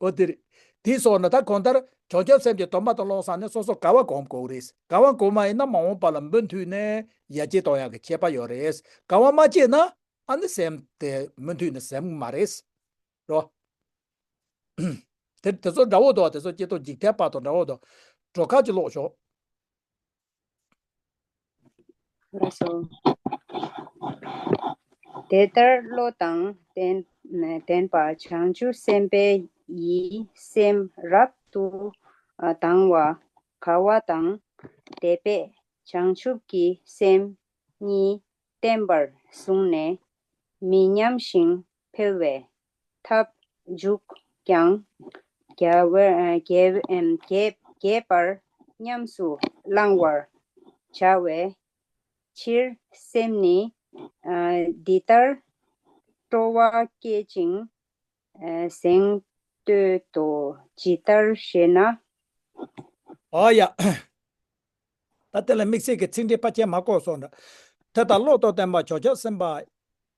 འོ་དེ་རེད། དེའི་སྲོག་ནི་ད་གོང་ལྟར་བྱང་ཆུབ་སེམས་ཀྱི་དོན་མ་དང་བློ་བཟང་ནི་སོ་སོར་དགའ་བ་གོམས་དགོས་རེད། དགའ་བ་གོམས་མ་ཡིན་ན་མ་འོངས་པ་ལ་འབུད་མཐུད་ནི་ཡ་གྱལ་གཏོང་ཡག་གི་ཁྱད་པ་ཡོད་རེད། དགའ་བ་མ་སྐྱེས་ན་ཨ་ནི་སེམས་དེ་མུ་མཐུད་ནི་སེམས་མ་རེད། རོ། དེ་དེ་ཚོ་འདྲ་བོ་འདུག་དེ་ཚོ་སྐྱེ་སྟོབས་འཇིག་ཐལ་པ་དང་འདྲ་བོ་འདུག། གྲོ་ཁ་ཅིག་ཀློག་ཞོག། དེ་ལྟར་བློ་དང་ལྡན་པ་བྱང་ཆུབ་སེམས་དཔའ་ཡི་སེམས་རབ་ཏུ་དང་བ་ག་བ་དང་དད་པས་བྱང་ཆུབ་ཀྱི་སེམས་གཉིས་བརྟན་པར་བཟུང་ནས་མི་ཉམས་ཤིང་འཕེལ་བའི་ཐབས་འཇུག་ཀྱང་རྒྱས་པར་ཉམས་སུ་བླང་བར་བྱ་བའི་ཕྱིར་སེམས་ནི་འདི་ལྟར་སྤྲོ་བ་བསྐྱེད་ཅིང་གཟེངས་བསྟོད་དོ། ཇི་ལྟར་ཞེ་ན། ཨ་ཡ། ད་དེ་ལ་དམིགས་བསལ་གྱི་ཚིག་འགྲེལ་པ་ཁྱད་མ་སྐོར་སོགས་འདྲ། དེ་ལྟར་བློ་རྟོག་བརྟན་པ་བྱོལ་བྱ་སེམས་དཔའ།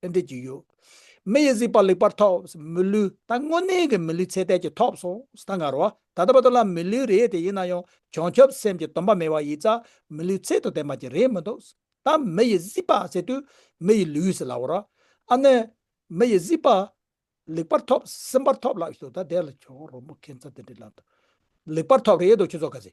ཏན་ཏིག་ཅིག་ཡོད། མི་ཡི་གཟིགས་པ་ལེགས་པར་ཐོབ་ཟིན་མི་ལུས་ད་དངོས་གནས་ཀྱི་མི་ལུས་ཚད་ལྡན་གྱི་ཐོབ་སོང་ཟིན་ད་ངར་བ་ད་ལྟ་བར་དུ་ལ་མི་ལུས་རེད་དེ་ཡིན་ན་ཡང་བྱང་ཆུབ་སེམས་ཀྱི་སྡོམ་པ་མེད་བ་ཡིས་ཙ་མི་ལུས་ཚད་དུ་ལྡན་པ་ཅིག་རེད་མི་འདུག་ད་མི་ཡི་གཟིགས་པ་ཟེར་དུས་མི་ཡི་ལུས་ཟེར་ལབ་བོ་ར་ཨ་ནི། མི་ཡི་གཟིགས་པ་ལེགས་པར་ཐོབ་ཟིན་པར་ཐོབ་ལབ་ཞིག་འདུག་ད་དེ་ལ་ཆོག་རོགས་མོ་ཁྱེད་ཚོ་དེ་འདྲའི་ལམ་དུ་ལེགས་པར་ཐོབ་རེད་འདུག་ཁྱོད་ཚོ་ག་ཟེ།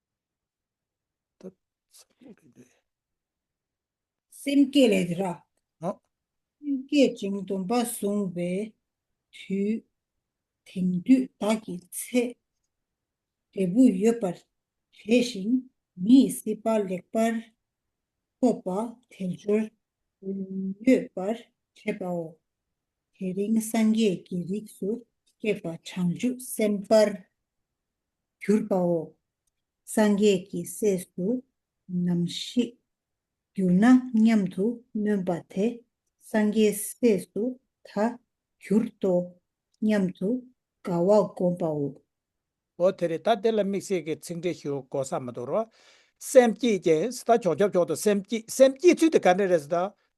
སེམས་བསྐྱེད་ལས་དེ་ར། སེམས་བསྐྱེད་ཅིང་སྡོམ་པ་བཟུང་བའི་དུས། དེང་དུས་བདག་གི་ཚེ་འབྲས་བུ་ཡོད་པར་བྱས་ཤིང་མི་ཡི་སྲིད་པ་ལེགས་པར་ཐོབ་པ་དལ་འབྱོར་གཡོས་པར་བྱེད་པའོ། དེ་རིང་སངས་རྒྱས་ཀྱི་རིགས་སུ་སྐྱེས་པ་བྱང་ཆུབ་སེམས་དཔར་གྱུར་པའོ། སངས་རྒྱས་ཀྱི་སྲས་སུ་ནམ་ཞིག་གྱུར་ན་སྙམ་དུ་སྨོན་པ་དེ་སངས་རྒྱས་སྲས་སུ་ད་གྱུར་ཏོ་སྙམ་དུ་དགའ་བ་བསྒོམ་པའོ། འོ་དེ་རེ་ད་དེ་ལ་དམིགས་བསལ་གྱི་ཚིག་འགྲེལ་ཞུ་དགོས་ས་མི་འདུག་རོ། སེམས་བསྐྱེད་ཀྱི། ད་ཆོག་ཆོག་ཆོག་ཏུ་སེམས་བསྐྱེད་སེམས་བསྐྱེད་ཚུལ་དེ་ག་འདྲ་རེད་ཟེར་ན།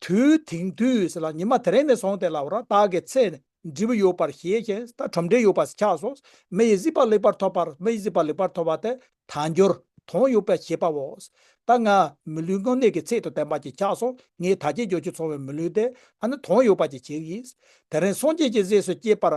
དུས་དེང་དུས་ལ་ཉི་མ་དེ་རིང་ནས་བཟུང་སྟེ་ལ་བ་ར་དྭགས་ཀྱི་ཚེ་ནས་འབྲས་བུ་ཡོད་པར་ཤེས་ཤེས་ད་ཁྲོམ་འབྲས་ཡོད་པར་ཆགས་སོ། མི་ཡི་སྲིད་པ་ལེགས་པར་ཐོབ་པར་མི་ཡི་སྲིད་པ་ལེགས་པར་ཐོབ་པ་དེ་དལ་འབྱོར་དོན་ཡོད་པའི་ཤེས་པའོ། ད་ང་མི་ལུས་དངོས་གནས་ཀྱི་ཚིག་ཏུ་བསྟན་པ་གྱིས་ཆགས་སོ་ངས་ད་ཁྱེད་ཇོ་ཆུ་ཚོང་བའི་མི་ལུས་དེ་ཨ་ནི་དོན་ཡོད་པ་གྱིས་བྱས་ཀྱིས། དེ་རིང་སངས་རྒྱས་ཀྱི་གཟས་སུ་སྐྱེས་པར།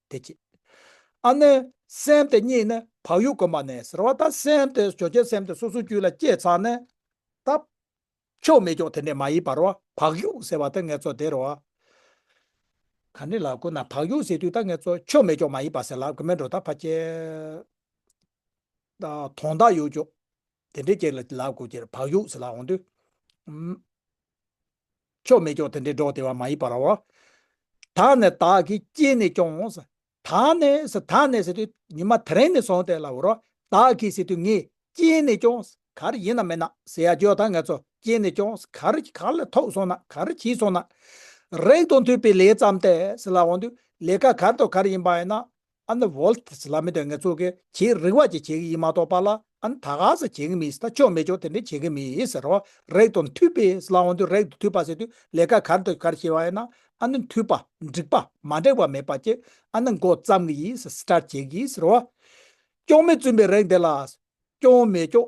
དེ་སྐྱེས། ཨ་ནི། སེམས་དེ་གཉིས་ནི་བག་ཡོད་གོ་མ་ནས་ཟེར་བ་ད་སེམས་དེ་བྱོ་ཁྱེད་སེམས་དེ་སོ་སོའི་རྒྱུད་ལ་སྐྱེས་ཚར་ནས་ད། ཕྱོགས་མེད་ཀྱང་དེ་འདྲས་མ་ཡིན་པར་བ་བག་ཡོད་ཟེར་བ་ད་ངེད་ཚོ་དེར་བ། ག་ནི་ལ་གོ་ན་བག་ཡོད་ཟེར་དུས་ད་ངེད་ཚོ་ཕྱོགས་མེད་ཀྱང་མ་ཡིན་པ་ཟེར་ལབ་གི་མེད་འགྲོ་ད་ཕ་ཁྱེད། དོན་དག་ཡོད་ཀྱང་དེ་འདྲས་ཀྱེར་ལ་ལབ་དགོས་ཀྱེར་བག་ཡོད་ཟེར་ལབ་འོང་དུས། ཕྱོགས་མེད་སྐྱོང་དེ་འདྲའི་སྒྲོག་སྡེ་བ་མ་ཡི་པ་རོ། དག་ནས་དག་གིས་སྐྱེས་ནས་སྐྱོང། དག་ནས་དག་ནས་ཟེར་དུས་ཉི་མ་དེ་རིང་ནས་བཟུང་སྟེ་ལ་འུར་རོ། དག་གིས་ཟེར་དུས་ངས་སྐྱེས་ནས་སྐྱོང། གར་ཡིན་ན་མིན་ན་ཟེར་ཡ་ཇོ་དང་ངེད་ཚོ་སྐྱེས་ནས་སྐྱོང། གར་ག་ལ་ཐོགས་སོང་ན་གར་གྱིས་སོང་ན། རེག་དང་ཐོས་པའི་ལས་བརྩམས་ཏེ་ལ་འོང་དུས་ལས་ཀ་གར་དང་གར་ཡིན་པ་ཡིན་ན། ཨ་ན་བོལ་ཏེ་ཟི་ལ་མི་དོན་ངས་གཙོ་གི་བྱེད་རིག་བ་ཅིག་བྱེད་གི་ཡིན་མ་གཏོགས་པ་ལ་ཨ་ན་ད་ག་ཟེ་བྱེད་གི་མིན་ད་ཅོག་མེ་ཅོག་དེ་འདྲས་བྱེད་གི་མིན་ཟེར་རོ། རེག་དང་མཐུད་པས་ཟི་ལ་འོང་དུས་རེག་དང་མཐུད་པ་ཟེར་དུས་ལས་ཀ་གར་འདོད་གར་བྱེད་བ་ཡིན་ན་ཨ་ན་མཐུད་པ་འགྲིག་པ་མ་འགྲིག་པ་མེད་པ་ཅིག་ཨ་ན་མགོ་བརྩམ་གི་ཡིན་ཟེ་ཟི་ཏྲར་བྱེད་གི་ཡིན་ཟེར་རོ། ཅོག་མེ་བཙུན་པའི་རེག་འདི་ལ། ཅོག་མེ་ཅོག་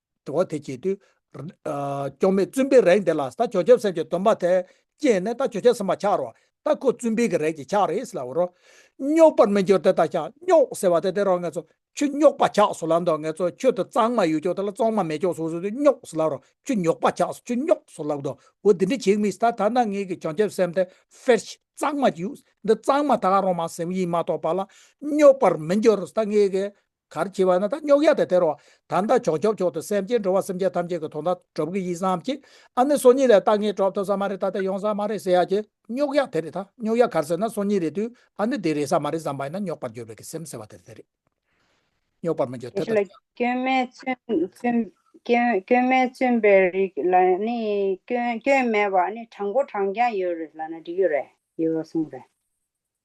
དྲི་བ། དེ་བྱེད་དུས། སྐྱོང་མེད་བཙུན་པའི་རེག་འདེད་ལ་ད་བྱོ་ཁྱབ་སེམས་ཀྱི་སྡོམ་པ་དེ་བསྐྱེད་ནས་ད་བྱོ་ཁྱབ་སེམས་པ་འཆར་རོ། ད་ཁོ་བཙུན་པའི་གི་རེག་གི་ཆགས་རེད་ཟེར་ལ་འོ་རོ། རྙོག་པར་མི་འགྱུར་དེ་ད་ཤ་རྙོག་ཟེར་བ་དེ་དེ་རོ་ངས་ཚོ་ཁྱོད་རྙོག་པ་ཆགས་སོ་ལབ་འདོག་ངས་ཚོ་ཁྱོད་དུ་གཙང་མ་ཡོད་ཅོག་དེ་ལ་གཙང་མ་མེད་ཅོག་སོ་སོ་དེ་རྙོག་ཟེར་ལབ་རོ་ཁྱོད་རྙོག་པ་ཆགས་སོ་ཁྱོད་རྙོག་སོ་ལབ་འདོག་འོ་དེ་འདྲས་བྱེད་མི་སྲིད་ད་ད་ནངས་ངས་གི་བྱོ་ཁྱབ་སེམས་དེ་ཧྥེར་ཤི་གཙང་མ་ཅིག་ཡོད་འདི་གཙང་མ་ད་རོ་མ་སེམས་ཡིན་མ་གཏོགས་པ་ལ་རྙོག་པར་མི་འགྱུར་རོ་ད་ངས་གི་གར་བྱེད་པ་ན་ད་རྙོག་གཡའ་དང་དེར་བ་དམ་དང་བྱོག་སྐྱོབ་མཆོག་ཏུ་སེམས་བསྐྱེད་འགྲོ་བ་སེམས་ཅན་ཐམས་ཅད་ཀྱི་དོན་དང་གྲུབ་ཀྱི་ཡིད་བསམ་གྱིས་ཨ་ནི་སོ་གཉིས་ལས་ལྟ་ངན་གྲོགས་ཐོབ་ས་མ་རེད་ད་ལྟ་ཡོང་ས་མ་རེད་ཟེར་ཡག་གི་རྙོག་གཡའ་དེ་རེད་ད་རྙོག་གཡའ་གར་ཟེར་ན་སོ་གཉིས་རེད་དུས་ཨ་ནི་དེ་རེད་ས་མ་རེད་བསམ་པ་ཡིན་ན་རྙོག་པར་གྱུར་པའི་གི་སེམས་ཟེར་བ་དེ་རེད་རྙོག་པར་མི་འགྱུར་དེ་ལྟ་ལ། སྐྱོན་མེད་བཙུན་པའི་རིགས་ལ་ནི་སྐྱོན་མེད་པ་ནི་དྲང་པོ་དྲང་རྐྱང་ཡོད་རེད་ལ་ན་འགྲིག་ཡོད་རེད་ཡོད་གསུངས་རེད།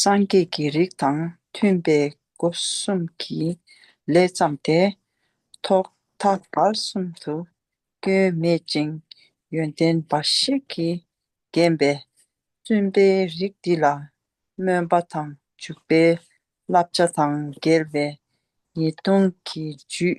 སངས་རྒྱས་ཀྱི་རིགས་དང་མཐུན་པའི་སྒོ་གསུམ་གྱི་ལས་བརྩམས་ཏེ། ཐོག་མཐའ་བར་གསུམ་དུ་སྐྱོན་མེད་ཅིང་ཡོན་ཏན་འབའ་ཞིག་གིས་བརྒྱན་པའི་བཙུན་པའི་རིགས་འདི་ལ་སྨོན་པ་དང་འཇུག་པའི་བསླབ་བྱ་དང་འགལ་བའི་ཉེས་ལྟུང་གི་རྒྱུད་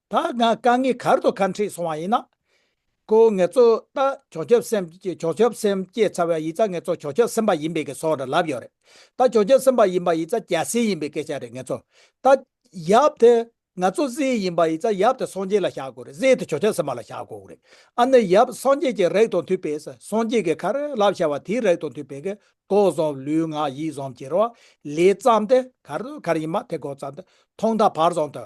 ད་ང་དཀའ་ངལ་གར་དུ་ཁ་འཁྲིད་སོང་བ་ཡིན་ན། ཁོ་ངེད་ཚོ་ལྟ་ཆོག་ཆོག་སེམས་ཆོག་ཆོག་སེམས་སྐྱེས་ཚར་བའི་ཡིག་རྩ་ངེད་ཚོ་ཆོག་ཆོག་སེམས་པ་ཡིན་པའི་གི་སོགས་རེ་ལབ་ཡོད་རེད། ད་ཆོག་ཆོག་སེམས་པ་ཡིན་པ་ཡིག་རྩ་སྐྱ་སེར་ཡིན་པའི་སྐད་ཆ་རེད་ངེད་ཚོ་ད། ཡབ་དེ། ང་ཚོ་བཟི་ཡིན་པ་ཡིག་རྩ་ཡབ་དེ་སངས་རྒྱས་ལ་བཞག་དགོས་རེད་བཟི་དེ་ཆོག་ཆོག་སེམས་པ་ལ་བཞག་དགོས་རེད། ཨ་ནི་ཡབ་སངས་རྒྱས་ཀྱི་རེག་དང་མཐུན་པའི་ས་སངས་རྒྱས་ཀྱི་ཁར་ལབ་བྱ་བ་དེའི་རེག་དང་མཐུན་པའི་གི་ཏོག་བཟང་ལུས་ངག་ཡིད་བཟང་བྱེད་རོགས་ལས་བརྩམས་ཏེ་གར་དུ་གར་ཡིན་མ་དེ་གོ་བརྩམས་ཏེ་ཐོག་མཐའ་བར་བཟང་དུ།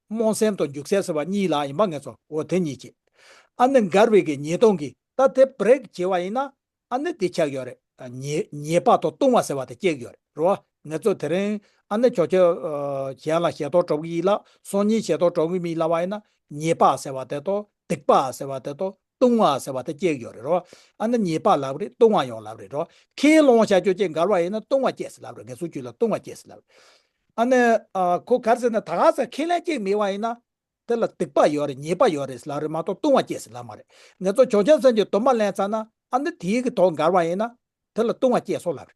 རྨོངས་སེམས་དང་རྒྱུགས་སེམས་ཟེར་བ་གཉིས་ལ་ཡིན་པ་ངེས་སོ་འོ་དེ་གཉིས་ཀྱིས་ཨ་ནི་མགར་བའི་གི་ཉིས་སྟོང་གི་ད་དེབ་བརེགས་བྱེད་བ་ཡིན་ན་ཨ་ནི་དེ་ཆགས་ཡོད་རེད་ཉེས་པ་དང་ལྟུང་བ་ཟེར་བ་དེ་སྐྱེགས་ཡོད་རེད་རོ་ངེས་ཚོ་དེ་རིང་ཨ་ནི་ཁྱོ་ཁྱོ་གཞན་ལ་ཞེ་དོགས་དྲོ་གི་ཡིད་ལ་སོང་གཉིས་ཞེ་དོགས་དྲོ་གི་མི་ལ་བ་ཡིན་ན་ཉེས་པ་ཟེར་བ་དེ་དང་སྡིག་པ་ཟེར་བ་དེ་དང་ལྟུང་བ་ཟེར་བ་དེ་སྐྱེས་ཡོད་རེད་རོ། ཨ་ན་ཉེས་པ་ལབ་རེད་ལྟུང་བ་ཡོང་ལབ་རེད་རོ། ཁས་ལོང་བྱ་རྒྱུ་ཅན་འགར་བ་ཡིན་ན་ལྟུང་བ་སྐྱེས་སི་ལབ་རེད་ངེད་ཚོ་རྒྱུད་ལ་ལྟུང་བ་སྐྱེས་སི་ལབ་རེད། ཨ་ན། ཁོ་གར་ཟེར་ན་ད་ག་ཟེ་ཁས་ལེན་སྐྱེས་མི་བ་ཡིན་ན། དེ་ལ་སྡིག་པ་ཡོད་རེད་ཉེས་པ་ཡོད་རེད་སི་ལབ་རེད་མ་གཏོགས་ལྟུང་བ་སྐྱེས་སི་ལབ་མ་རེད་ངེད་ཚོ་ཇོ་ཆེན་བཙན་གྱི་དོན་མ་ལེན་ཚར་ན་ཨ་ན་དེའི་གི་དོག་འགར་བ་ཡིན་ན། དེ་ལ་ལྟུང་བ་སྐྱེས་སོང་ལབ་རེད།